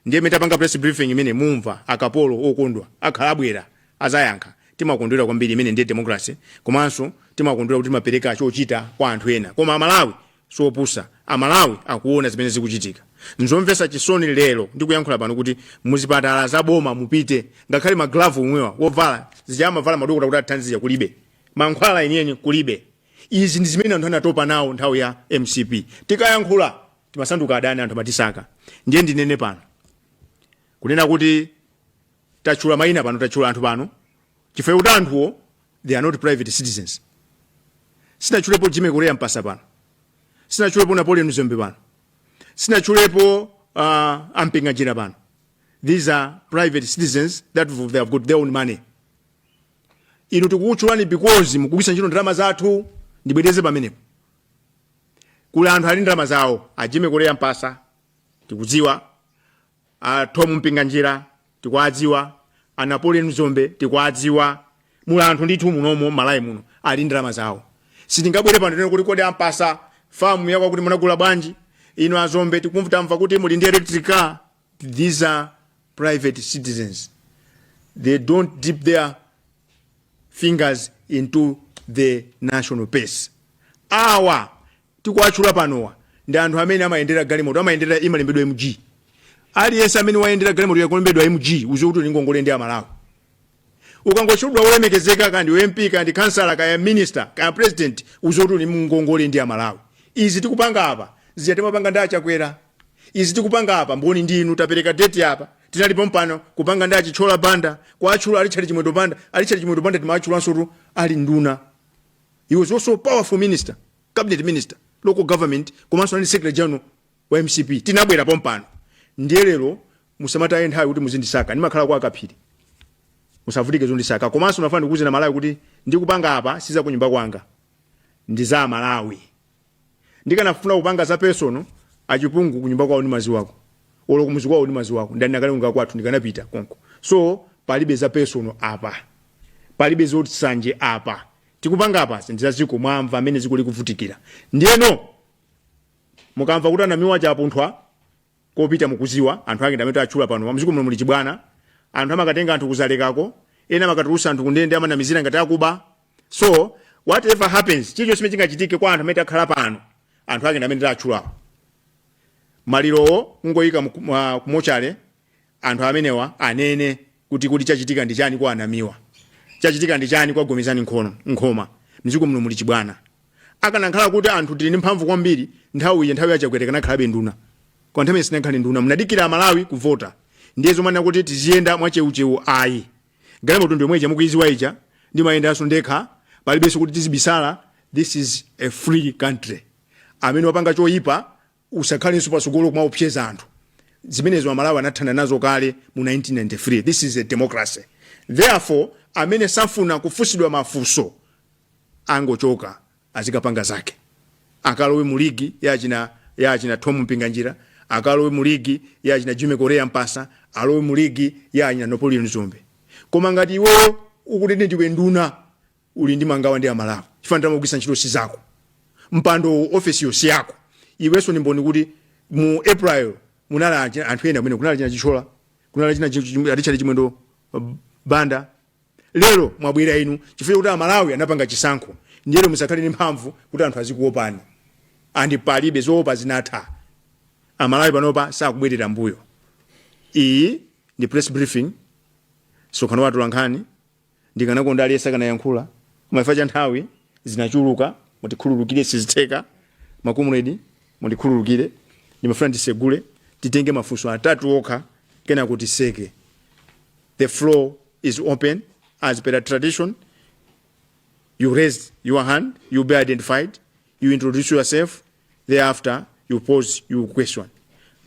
ndiye mene tapanga press briefing imene mumva akapolo okondwa akhala abwera Azayankha, Timakondwera kwambiri imeneyi ndiye democracy komanso timakondwera kuti timapereka chochita kwa anthu ena koma amalawi siopusa amalawi akuona zimene zikuchitika. Nzomvesa chisoni lero ndikuyankhula pano kuti muzipatala za boma mupite ngakhale ma glove omwewa ovala zija amavala madokota kuti atithandize zija kulibe. Mankhwala enieni kulibe. Izi ndizimene anthu anatopa nawo nthawi ya mcp tikayankhula timasanduka adani anthu amatisaka. Ndiye ndinene pano kunena kuti tatchula mayina pano tatchula anthu pano chifukwa kuti anthuwo they are not private citizens sinatchulepo jimmy korea mpasa pano sinatchulepo napoleon dzombe pano sinatchulepo uh, a mpinganjira pano these are private citizens that they have got their own money inu tikukutchulani because mukugwisa ntchito ndalama zathu ndibwereze pamenepo kuli anthu ali ndalama zawo a jimmy korea mpasa tikudziwa A Thom Mpinganjira tikuwadziwa, a Napoleon Dzombe tikuwadziwa, muli anthu ndithu munomo m'Malawi muno ali ndi ndalama zawo. Sitingabwere pano tinene kuti kodi a Mpatsa famu yakwakuti munagula bwanji? Inu a Dzombe tikumva tamva kuti muli ndi electric car. These are private citizens. They don't dip their fingers into the national purse. Awa tikuwatchula panowa ndi anthu amene amayendera galimoto amayendera yolembedwa mg aliyense amene wayendera galimoto yakulembedwa mg udziwe kuti uli mngongole ndi amalawi ukangotchulidwa wolemekezeka kaya ndi mp kaya ndi kansala kaya minister kaya president udziwe kuti uli mngongole ndi amalawi izi tikupanga apa zija timapanga ndi achakwera izi tikupanga apa mboni ndi inu tapereka date apa tinali pompano kupanga ndi a Chithyola banda kuwatchula a Richard chimwendo banda a Richard chimwendo banda timawatchulansotu ali nduna he was also powerful minister cabinet minister local government komanso anali secretary general wa mcp tinabwera pompano ndiye lero musamataye nthawi kuti muzindisaka ndimakhala kwa Kaphiri musavutike zondisaka komanso nafuna ndikuuzeni amalawi kuti ndikupanga apa siza kunyumba kwanga ndi za malawi ndikanafuna kupanga za personal achipungu kunyumba kwawo ndimadziwako olo kumudzi kwawo ndimadziwako ndani akalonga kwathu ndikanapita konko so palibe za personal apa palibe zoti nsanje apa tikupanga apa ndi za dziko mwamva mmene dziko likuvutikira ndiyeno mukamva kuti a Namiwa chapunthwa kopita mukudziwa anthu ake ndi amene tatchula pano mdziko muno muli chibwana anthu amakatenga anthu kuzaleka uko ena amakatulutsa anthu kundende amanamizira ngati akuba so whatever happens chilichonse chimene chingachitike kwa anthu amene akhala pano anthu ake ndi amene tidatchulawo malirowo kungoyika mu- mwa- ku mortuary anthu amenewa anene kuti kuti chachitika ndi chani kwa a Namiwa chachitika ndi chani kwa gomezani nkhono nkhoma mdziko muno muli chibwana akanakhala kuti anthu tili ndi mphamvu kwambiri nthawi iyi nthawi ya Chakwera akanakhalabe nduna kwa nthawi imene sanakhale nduna munadikira amalawi kuvota ndiye zomwe anakuti tiziyenda mwacheucheu ayi galimoto ndi yomwe ija mukuidziwa ija ndimayendanso ndekha palibenso kuti tizibisala this is a free country amene wapanga choyipa usakhalenso patsogolo kumaopseza anthu zimenezo amalawi anathana nazo kale mu 1993 this is a democracy therefore amene safuna kufunsidwa mafunso angochoka azikapanga zake akalowe mu ligi ya achina ya achina Tom Mpinganjira akalowe mu ligi ya achina Jimmy Korea Mpatsa alowe mu ligi ya achina Napoleon Dzombe koma ngati iweyo ukuti ndi ndiwe nduna uli ndi mangawa ndi amalawi chifukwa ndalama ukugwiritsa ntchito si zako mpando ofesi yonse yako iwenso ndi mboni kuti mu april munali achi- anthu ena amene kunali achina Chithyola kunali achina richard chimwendo uh, banda lero mwabwera inu chifukwa chakuti amalawi anapanga chisankho ndiyeno musakhale ndi mphamvu kuti anthu azikuopani and palibe zoopa zinatha amalawi panopa sakubwerera mbuyo iyi ndi press briefing msonkhano wa atolankhani ndikanakonda aliyense akanayankhula koma ifa cha nthawi zinachulukazi mutikhululukire sizitheka ma comrade mundikhululukire ndimafuna ndisegule titenge mafunso atatu okha kenako tiseke The floor is open. As per tradition, you raise your hand, you be identified, you introduce yourself, thereafter you pose your question.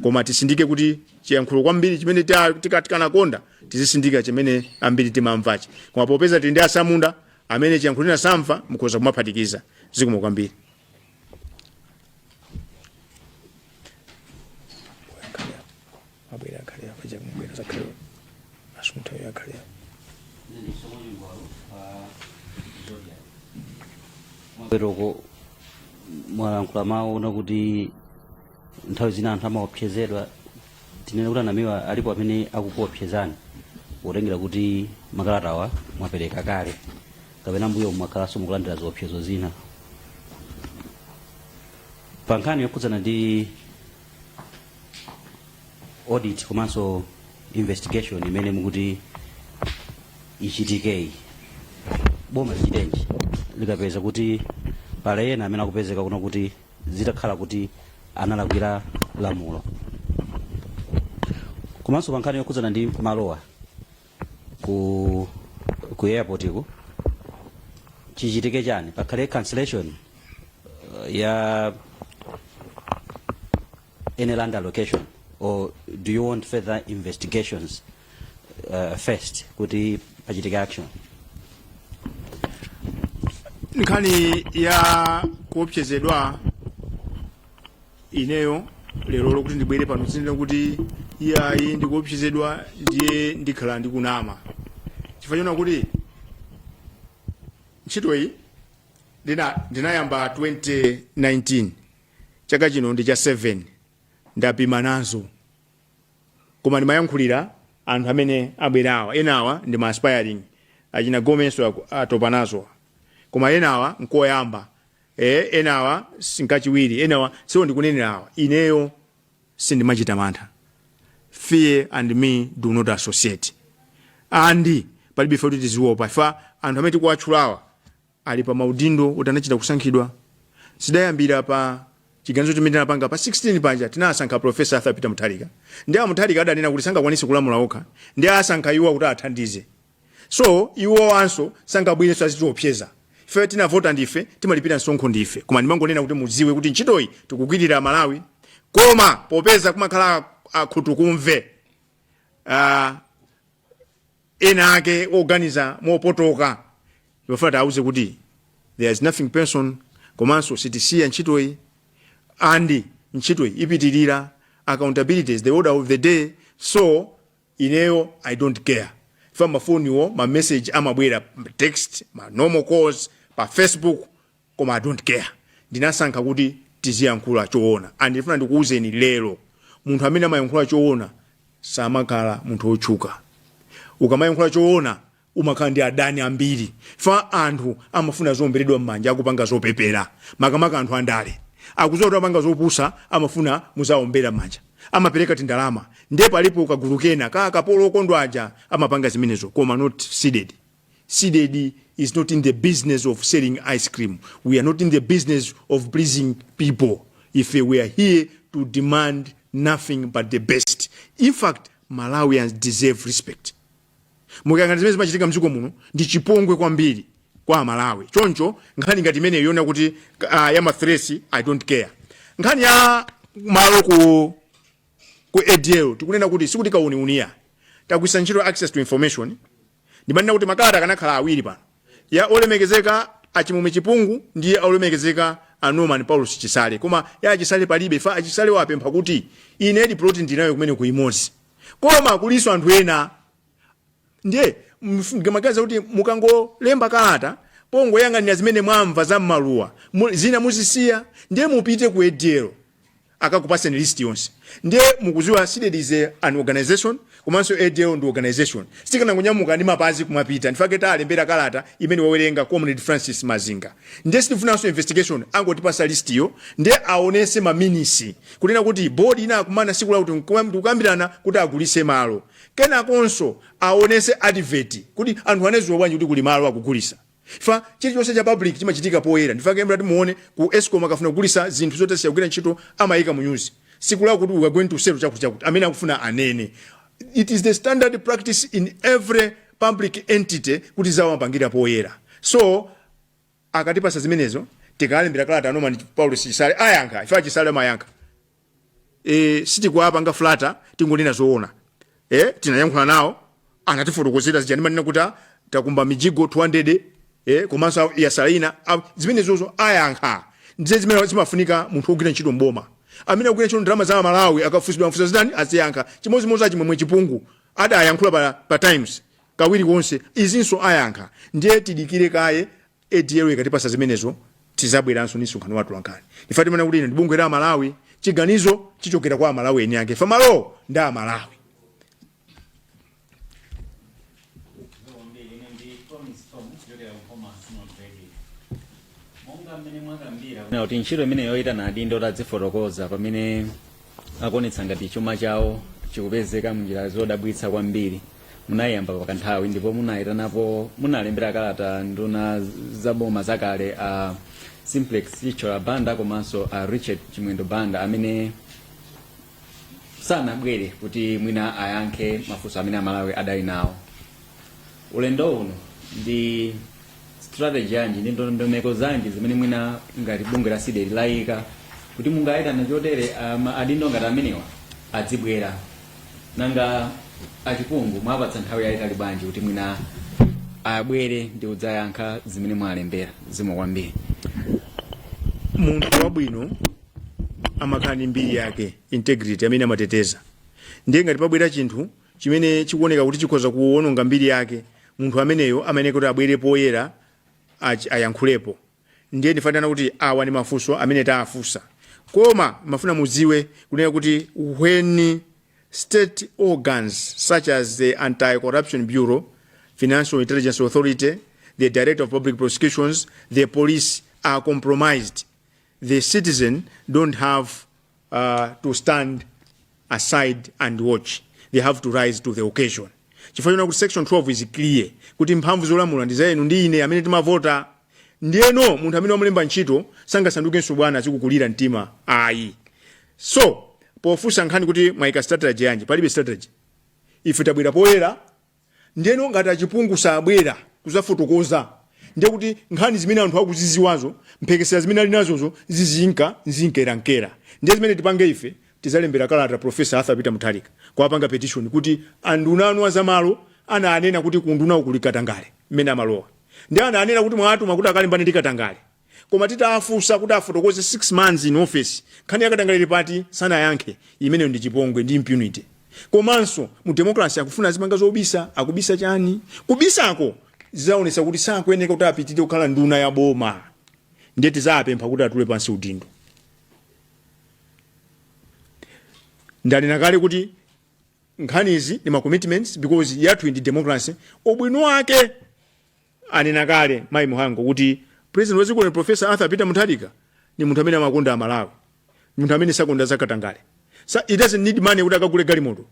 Koma tisindike kuti chiyankhulo kwambiri chimene ta- tika- tikanakonda tizisindika chimene ambiri timamvachi. Koma popeza tili ndi asamunda amene chiyankhulo china sakumva mukhoza kumaphatikiza zikomo kwambiri. abwera akhale apa chakumubwera zakhale asunthayo akhale apa poyeroko mwalankhula mawu onena kuti nthawi zina anthu amaopsezedwa tinene kuti a namiwa alipo amene akukuopsezani potengera kuti makalatawa mwapereka kale kapena mbuyomu mwakhalanso mukulandira ziopsezo zina pa nkhani yokhudzana ndi audit komanso investigation imene mukuti ichitikeyi boma lichitenji likapeza kuti pali ena amene akupezeka kunena kuti zitakhala kuti analakwira lamulo komanso pa nkhani yokhudzana ndi malowa ku ku airportku chichitike chani pakhale cancellation uh, ya any land allocation or do you want further investigations uh, first kuti pachitike action nkhani ya kuopsezedwa ineyo lero loti ndibwere pano ndinene kuti iyayi ndikuopsezedwa ndiye ndikhale ndikunama chifukwa chonena kuti ntchito iyi ndina- ndinayamba 2019 chaka chino ndi cha 7 ndapima nazo koma ndimayankhulira anthu amene abwerawa enawa ndi ma aspiring achina gomenso aku- atopa nazo koma enawa nkoyamba Eh, enawa sinkachiwiri enawa ndiwo ndikunenera awa ineyo sindimachita mantha fear and me do not associate and palibe ife kuti tiziwopa ifa anthu amene tikuwatchulawa ali pa maudindo oti anachita kusankhidwa zidayambira pa chiganizo chimene tinapanga pa 16 paja tinasankha profesa arthur peter mutharika ndiye amutharika adanena kuti sangakwanise kulamula okha ndiye asankha iwo kuti athandize so iwowanso sangabwerenso azitiopseza ife tinavota ndife timalipira msonkho ndife koma ndimangonena kuti mudziwe kuti ntchitoyi tikugwirira malawi koma popeza kumakhala akhutukumve uh, ena ake oganiza mopotoka ndimafuna tiauze kuti there is nothing personal komanso sitisiya ntchitoyi and ntchitoyi ipitirira accountability is the order of the day so Ineyo I don't care chifukwa ma phone wo ma message amabwera text ma normal calls pa Facebook koma I don't care ndinasankha kuti tiziyankhula choona and ndifuna ndikuuzeni lero munthu amene amayankhula choona samakhala munthu otchuka ukamayankhula choona umakhala ndi adani ambiri fa anthu amafuna zoomberedwa m'manja akupanga zopepera makamaka anthu andale akuziwa kuti amapanga zopusa amafuna muzaombera m'manja amapereka tindalama ndiye palipo kagulu kena ka akapolo okondwa aja amapanga zimenezo koma not CDEDI CDEDI is not in the business of selling ice cream we are not in the business of pleasing people ife we are here to demand nothing but the best in fact malawians deserve respect mukayang'ana zimene zimachitika mdziko muno ndi chipongwe kwambiri kwa amalawi choncho nkhani ngati imeneyo yonena kuti uh, ya mathiresi i don't care nkhani ya malo ku ku ADL tikunena kuti sikuti kauniuni ayi tagwisa ntchito access to information ndimanena kuti makalata akanakhala awiri pano ya olemekezeka a Chimwemwe Chipungu ndi ya olemekezeka a Norman Paulosi Chisale. Koma ya a Chisale palibe fa a Chisale wapempha kuti inedi plot ndinayo kumeneku imodzi. Koma kulinso anthu ena ndiye mukamaganiza kuti mukangolemba kalata pongoyang'anira zimene mwamva za mmaluwa mu- zina muzisiya ndiye mupite ku ADL akakupatseni list yonse ndiye mukuziwa CDEDI is a, an organization komanso ADL ndi organization sitikanangonyamuka ndi mapazi kumapita ndifake talembera kalata imene wawerenga comrade francis mazinga ndiye sitifunanso investigation angotipasa list yo ndiye aonese maminisi kunena kuti board inakumana siku lakuti nkuwa- ndikukambirana kuti agulise malo kenakonso aonese advert kuti anthu anaziwa bwanji kuti kuli malo akugulisa Chifukwa chilichonse cha public chimachitika poyera ndifake mutati muone ku escom akafuna kugulisa zinthu zoti zasiya kugwira ntchito amayika mu news siku lakuti we are going to sell chakuti chakuti amene akufuna anene it is the standard practice in every public entity kuti zawo amapangira poyera so akatipasa zimenezo tikalembera kalata a Norman Paulosi Chisale ayankha fa a Chisale amayankha e, sitikuwapanga flata tingonena zoona e, tinayankhula nawo anatifotokozera zija amanena kuti ah, takumba mijigo 200 e, komanso a- yasala ina a- zimenezozo ayankha ndiye zimene zimafunika munthu wogwira ntchito mboma amene akugwira ntchito ndalama za malawi akafunsidwa mafunso zitani aziyankha chimodzimodzi achimwemwe chipungu adayankhula pa, pa times kawiri konse izinso ayankha ndiye tidikire kaye ADL ikatipasa zimenezo tizabweranso ndi msonkhano wa atolankhani chifukwa timanena kuti ili ndi bungwe la amalawi chiganizo chichokera kwa amalawi eni ake fa malowo ndi amalawi kuti ntchito imene yoitana adindo tadzifotokoza pamene akuonetsa ngati chuma chawo chikupezeka munjira zodabwitsa kwambiri munayiyamba pakanthawi ndipo munayitanapo munalembera kalata nduna za boma zakale a simplex chithyola banda komanso a richard chimwendo banda amene sanabwere kuti mwina ayankhe mafunso amene amalawi adali nawo ulendo uno ndi strategy yanji ndi ndondomeko zanji zimene mwina ngati bungwe la CDEDI layika kuti mungayitana chotere um, adindo ngati amenewa adzibwera nanga achipungu mwapatsa nthawi yayitali bwanji kuti mwina abwere ndi kudzayankha zimene mwalembera zikomo kwambiri munthu wabwino amakhala ndi mbiri yake integrity amene amateteza ndiye ngati pabwera chinthu chimene chikuoneka kuti chikhoza kuononga mbiri yake, munthu ameneyo amayenera kuti abwere poyera ach- ayankhulepo. Ndiye ndikufuna kunena kuti awa ndi mafunso amene taafunsa. Koma ndimafuna mudziwe kunena kuti when state organs such as the Anti-Corruption Bureau, Financial Intelligence Authority, the Director of Public Prosecutions, the police are compromised, the citizen don't have uh, to stand aside and watch they have to rise to the occasion chifukwa chonena kuti section 12 is clear kuti mphamvu zolamula ndi za inu ndi ine amene timavota ndiyeno munthu amene wamulemba ntchito sangasandukenso bwana azikukulira mtima ayi so pofunsa nkhani kuti mwayika strategy yanji palibe strategy ife tabwera poyera Ndeno ngati achipungu sabwera kuzafotokoza ndiye kuti nkhani zimene anthu akuziziwazo mphekesera zimene ali nazozo zizinkerankera ndiye zimene tipange ife tizalembera kalata Prof Arthur Peter Mutharika kuwapanga petition kuti anduna anu azamalo ananena kuti ku undunako kuli katangale mmene amalowa ndiye ananena kuti mwawatuma kuti akalimbane ndi katangale Koma titawafunsa kuti afotokoze 6 months in office, nkhani ya katangale ili pati? Sanayankhe. Imene ndi chipongwe ndi impunity. Komanso mu democracy akufuna azipanga zobisa, akubisa chani? Kubisako zidzaonetsa kuti sakuyeneka kuti apitilire kukhala nduna ya boma. Ndiye tidzawapempha kuti atule pansi udindo. Ndanena kale kuti nkhani izi ndi ma commitments because yathuyi ndi democracy, ubwino wake Anena kale Mayi Mhango kuti President wa dziko lino Prof. Arthur Peter Mutharika ndi munthu amene amakonda a Malawi, ndi munthu amene sakonda za katangale. Sa, he doesn't need money kuti akagule galimoto.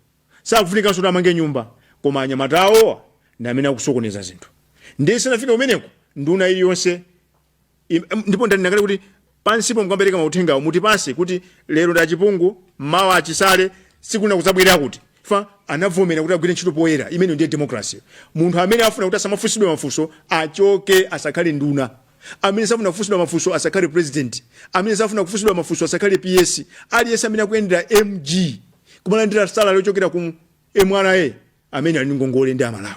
Sakufunikanso kuti amange nyumba. Koma anyamata awowa ndi amene akusokoneza zinthu. Ndiye isanafike umeneko, nduna iliyonse Im- em, ndipo ndanena kale kuti pansipo mukapereka mauthengawo mutipatse kuti lero ndi a Chipungu mawa a Chisale sikuneneka kudzabwera chifukwa anavomera kuti agwire ntchito poyera imene ndiye democracy munthu amene afuna kuti asamafunsidwe mafunso achoke asakhale nduna amene safuna kufunsidwa mafunso asakhale president amene safuna kufunsidwa mafunso asakhale PS aliyense amene akuyendera MG kumalandira salary yochokera ku MRA amene ali ndi ngongole ndi a Malawi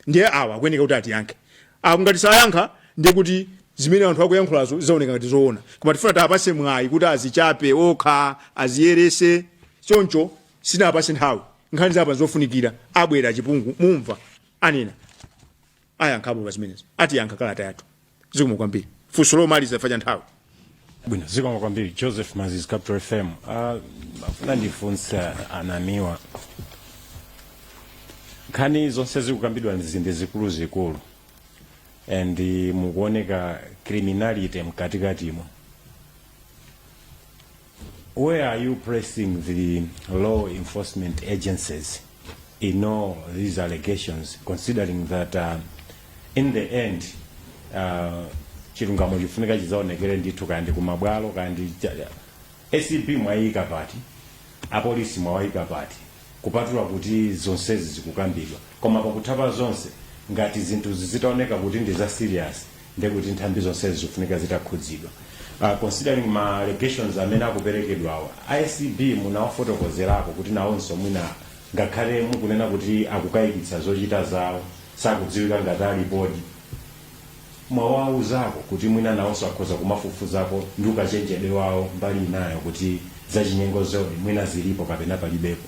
ndiye awa akuyeneka kuti atiyankhe apo ngati sayankha ndiye kuti zimene anthu akuyankhulazo zizaoneka ngati zoona koma tifuna tiwapatse mwayi kuti azichape okha aziyeretse choncho sitinawapatse nthawi nkhani zapanga zofunikira abwere a Chipungu mumva anena ayankhapo pa zimenezo atiyankha kalata yathu zikomo kwambiri funso lomaliza chifukwa cha nthawi bwino zikomo kwambiri Joseph Mazizi Capital FM Ah, ndifuna ndifunse a Namiwa nkhani zonse zikukambidwa ndi zikuluzikulu ndi mukuoneka criminality mkatikatimo Where are you placing the law enforcement agencies in all these allegations, considering that uh, in the end uh, chilungamo chifunika chizaonekere ndithu kandi kumabwalo kandi ACB mwaiika pati apolisi mwawaika pati kupatula kuti zonsezi zikukambidwa koma pakutha pa zonse ngati zinthu zitaoneka kuti ndi za serious ndiye kuti nthambi zonsezi zikufunika zitakhudzidwa uh, considering ma allegations amene akuperekedwawa ACB munawafotokozerako kuti nawonso mwina ngakhale mukunena kuti akukayikitsa zochita zawo sakudziwika ngati alipodi, mwawauzako kuti mwina nawonso akhoza kumafufuzako ndi ukachenjede wawo mbali inayo kuti zachinyengo zo di mwina zilipo kapena palibepo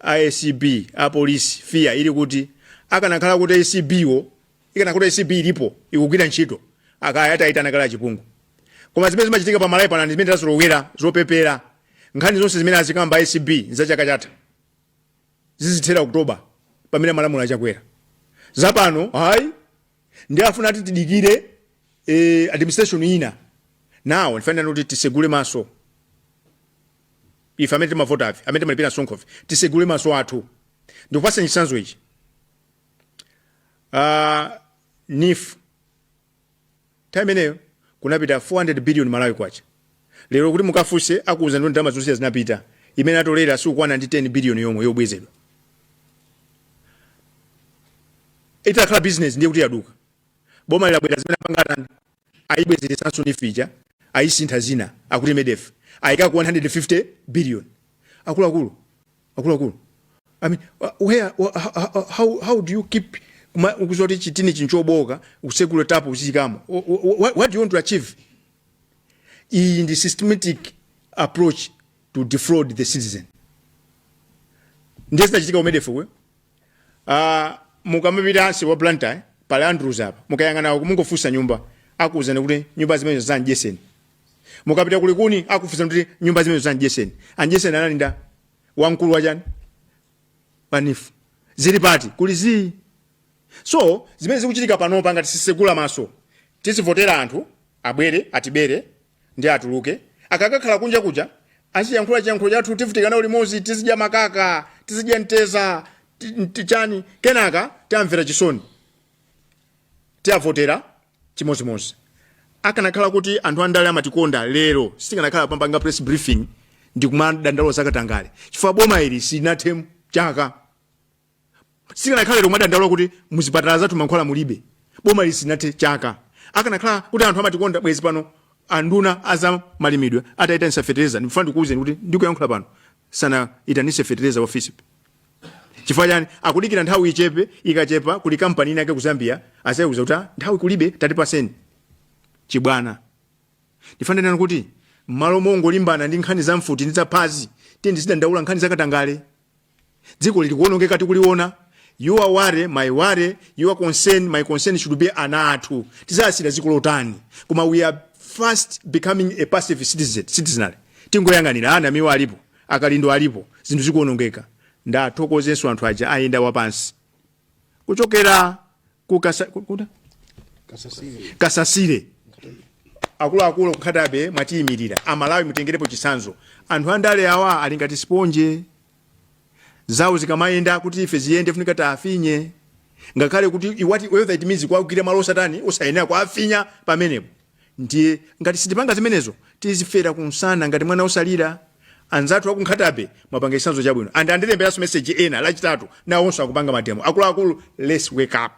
acb apolisi fia ili kuti akanakhala kuti acb wo ikanakhala kuti acb ilipo ikugwira ntchito akaya atayitana kale a chipungu koma zimene zimachitika pa malawi pano ndi zimene tazolowera zopepera nkhani zonse zimene azikamba acb nza chaka chatha zizithera oktoba pamene amalamula a chakwera zapano hayi ndi afuna ati tidikire eh, administration ina now ndifanira kuti tisegule maso ife amene timavotafe amene timalipira msonkhofe tisegule maso athu ndikupasani chitsanzo ichi uh, neef nthawi imeneyo kunapita 400 billion malawi kwacha lero kuti mukafunse akuuzani ndalama zonse zinapita imene atolera sikukwana ndi 10 billion yomwe yobwezedwa itakhala business ndiye kuti yaduka bomali labwera zimene apanga atani ayibwezeretsanso neef ija ayisintha zina akuti MEDF ayikako 150 billion akuluakulu akuluakulu I mean, wh- where, wh- how, how, how how do you keep kuma- ukuziwa kuti chitinichi nchobooka usekule tap uziikamo Wh- wh- wh- what do you want to achieve iyi ndi systematic approach to defraud the citizen ndiye zinachitika ku MEDF kwe Ah, mukamapita nsewu wa blantyre pali andrews apa mukayang'ana uku mungofunsa nyumba akuwuzani kuti nyumba zimenezo za a mdyetseni mukapita kulikuni akufunsa kuti nyumba zimenezo za a mdyetseni a mdyetseni anali ndani wamkulu wachani pa neef zili pati kuli zii so zimene zikuchitika panopa ngati sitisegula maso tizivotera anthu abwere atibere Ndiye atuluke. Akakakhala kunja kuja, aziyankhula chiyankhulo chathu, tivutika nawo limodzi, tizidya makaka, tizidya mteza, ti- ti- chani, kenaka tiamvera chisoni, tiavotera chimodzimodzi. Akanakhala kuti anthu andale amatikonda lero, sitikanakhala pampanga press briefing ndi kumadandaulo zakatangale, chifukwa boma ili silinathe chaka sikanakhala lero kumadandaula kuti muzipatala zathu mankhwala mulibe bomali silinathe chaka akanakhala kuti anthu amatikonda bwezi pano anduna aza malimidwe atayitanisa fetereza ndifuna ndikuwuzeni kuti ndikuyankhula pano sanayitanise fetereza ofisi chifukwa chani akudikira nthawi ichepe ikachepa kuli kampani inake ku zambia azayiuza kuti "Ah, nthawi kulibe tatipaseni chibwana ndifane nanu kuti mmalo mongolimbana ndi nkhani za mfuti ndi zaphazi tiyeni tizidandaula nkhani zakatangale dzikoli likuonongeka tikuliona your worry my worry your concern my concern should be ana athu tizawasiyira dziko lotani koma we are fast becoming a passive citizen citizenry tingoyang'anira a namiwa alipo a kalindo alipo zinthu zikuonongeka ndathokozenso anthu aja ayenda wapansi kuchokera ku kasasire akuluakulu ku nkhatabe mwatiyimirira amalawi mutengerepo chisanzo anthu andale awa ali ngati siponje zawo zikamayenda kuti ife ziyende funika tiafinye ngakhale kuti whether it means kuwagwira malo osatani osayenera kuafinya pamenepo Ndiye ngati sitipanga zimenezo tizifera kumsana ngati mwana wosalira. Anzathu aku Nkhatabe mwapanga chitsanzo chabwino and andilemberanso message ena lachitatu nawonso akupanga mademo akuluakulu let's wake up.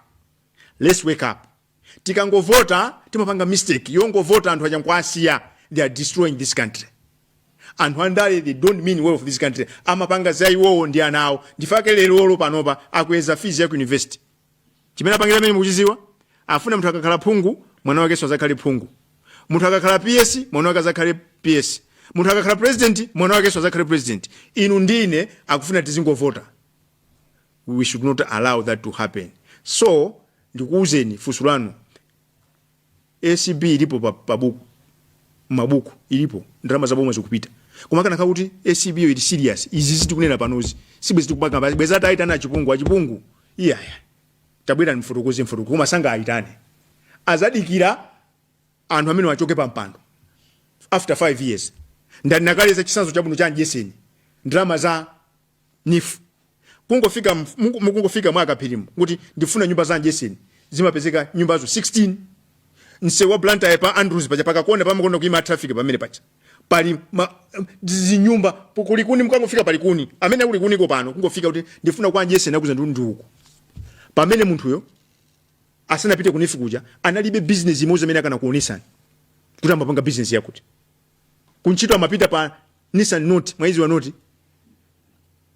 Let's wake up. Tikangovota timapanga mistake yongovota anthu aja nkuwasiya they are destroying this country. Anthu andale they don't mean well for this country amapanga za iwowo ndi ana awo ndifake lero panopa akweza fees ya ku university. chimene apangira chimene mukuchiziwa afuna munthu akakhala phungu mwana wakenso azakhale phungu munthu akakhala ps mwana wake azakhale ps munthu akakhala president mwana wakenso azakhale president inu ndi ine akufuna tizingovota we should not allow that to happen so ndikuwuzeni funso lanu Acb ilipo pabuku mabuku ilipo ndalama za boma zikupita koma akanakhala kuti acb yo ili serious izi zi tikunena panozi sibwezi tikupanga pa- bwezi ataitana achipungu achipungu iyaya tabwerani mfotokoze mfotokoze koma sangaaitane azadikira anthu amenewa achoke pa mpando after 5 years ndanena kale za chisanzo chabwino cha anjeseni ndalama za nifu kungofika muku- mukungofika mwa akaphirimo kuti ndifuna nyumba za anjeseni zimapezeka nyumbazo 16 msewu wa blantyre pa andrews paja pakakona pamakonda kuima traffic pamene paja pali ma, zinyumba po- kulikuni mukangofika palikuni amene ali kulikuniko pano kungofika kuti ndifuna kwa anjeseni akuuzani ndi uko pamene munthuyo asanapite kunifu kuja analibe business imodzi amene akanakuonesani kuti amapanga business yakuti kuntchito amapita pa nissan note mwaiziwa note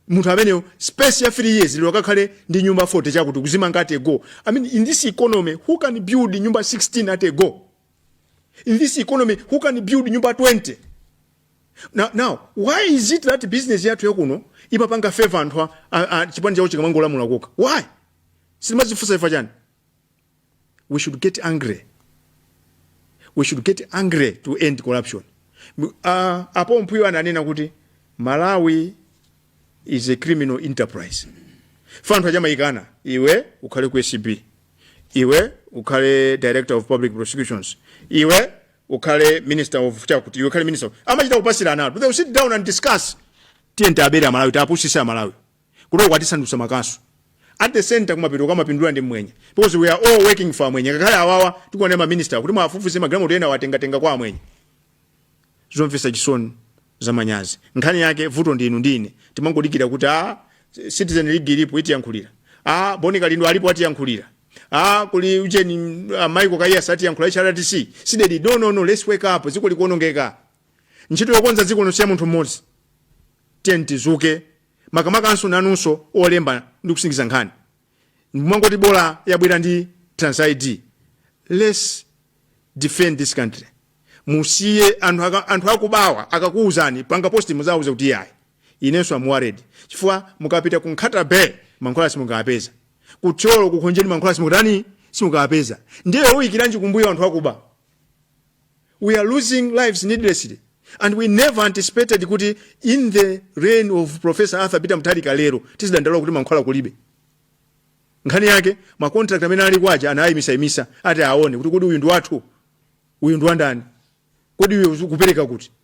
munthu ameneyo space ya 3 years lero akakhale ndi nyumba 40 zakuti kuzimanga at a go i mean in this economy who can build nyumba 16 at a go in this economy who can build nyumba 20 now, now why is it that business yathu yakuno imapanga favor anthu a- a- a- chipani chawo chikamalamula kokha why sitimazifunsa ifa chani we should get angry we should get angry to end corruption uh, apo mpuyo ananena kuti malawi is a criminal enterprise ifa anthu aja amayikana iwe ukhale ku acb iwe ukhale director of public prosecutions iwe ukhale minister of chakuti iwe ukhale minister amachita kupatsirana they will sit down and discuss tiyeni tiabere amalawi tiapusise amalawi Kuno kwatisandutsa makasu. At the center kumapeto kamapindula ndi mmwenye because we are all working for mmwenye ngakhale awawa tikuona ma minister kuti muwafufuze magalimoto ena atengatenga kwa amwenye. Zomvetsa chisoni zamanyazi. Nkhani yake vuto ndi inu ndi ine timangodikira kuti a Citizen League ilipo itiyankhulira. A Boni Kalindo alipo atiyankhulira. A kuli ujeni uh, Michael Kaiyatsa atiyankhulira HRDC. Sidedi no no no let's wake up dziko likuonongeka. Ntchito yokonza dziko n'osiyira munthu mmodzi. Tiyeni tizuke makamakanso nanunso olemba ndi kusindikiza nkhani mumangoti bola yabwera ndi trans id lets defend this country musiye anthu, aka- anthu akubawa akakuwuzani panga posti muziwauza kuti yayi inenso am worried chifukwa mukapita ku nkhata bay mankhwala simukapeza ku Thyolo ku Khonjeni mankhwala simutani simukapeza ndiye muyikiranji kumbuyo anthu akuba we are losing lives needlessly and we never anticipated kuti in the reign of professor arthur peter mutharika lero tizidandaula kuti mankhwala kulibe nkhani yake macontract amene ali kwaja anayimisayimisa ati aone kuti kodi uyu ndi wathu uyu ndi wandani kodi uyu kupereka kuti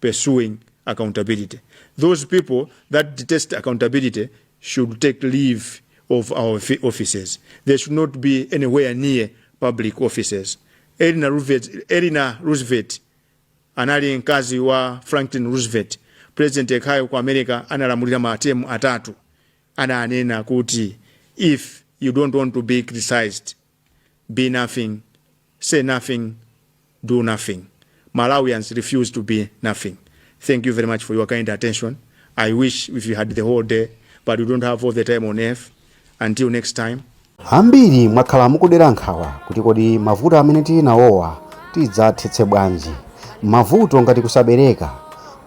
pursuing accountability. Those people that detest accountability should take leave of our fi- offices. They should not be anywhere near public offices. Eleanor Roosevelt, Eleanor Roosevelt anali mkazi wa franklin roosevelt president yekhayo ku america analamulira matemu atatu ananena kuti if you don't want to be criticized be nothing, say nothing, do nothing. Malawians refuse to be nothing. Thank you very much for your kind attention. I wish if we had the whole day, but we don't have all the time on earth. Until next time. ambiri mwakhala mukudera nkhawa kuti kodi mavuto amene tili nawowa tidzathetse bwanji mavuto ngati kusabereka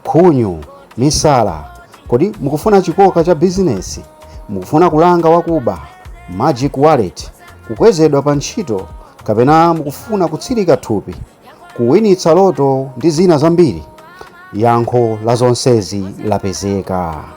Khunyu, misala, kodi mukufuna chikoka cha bizinesi? Mukufuna kulanga wakuba, magic wallet, kukwezedwa pa ntchito kapena mukufuna kutsilika thupi, kuwinitsa loto ndi zina zambiri? Yankho la zonsezi lapezeka.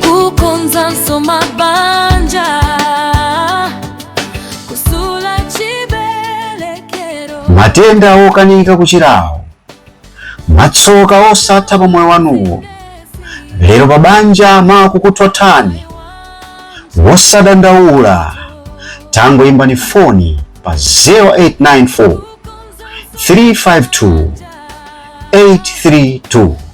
kukonza nsoma banja kutsula chibelekero matenda okanika kuchirawo matsoka osatha pa moyo wanuwo lero pa banja akukuthothani osadandaula tangoimbani foni pa 0894 352 832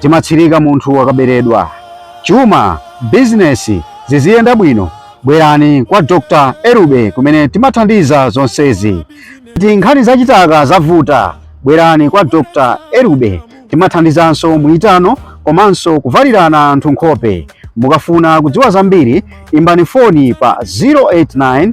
timatsirika munthu akaberedwa. Chuma, bizinesi ziziyenda bwino, bwerani kwa Dr. Erube kumene timathandiza zonsezi. Ngati nkhani za chitaka zavuta, bwerani kwa Dr. Erube. Timathandizanso muitano komanso kuvalirana anthu nkhope. Mukafuna kudziwa zambiri, imbani foni pa 089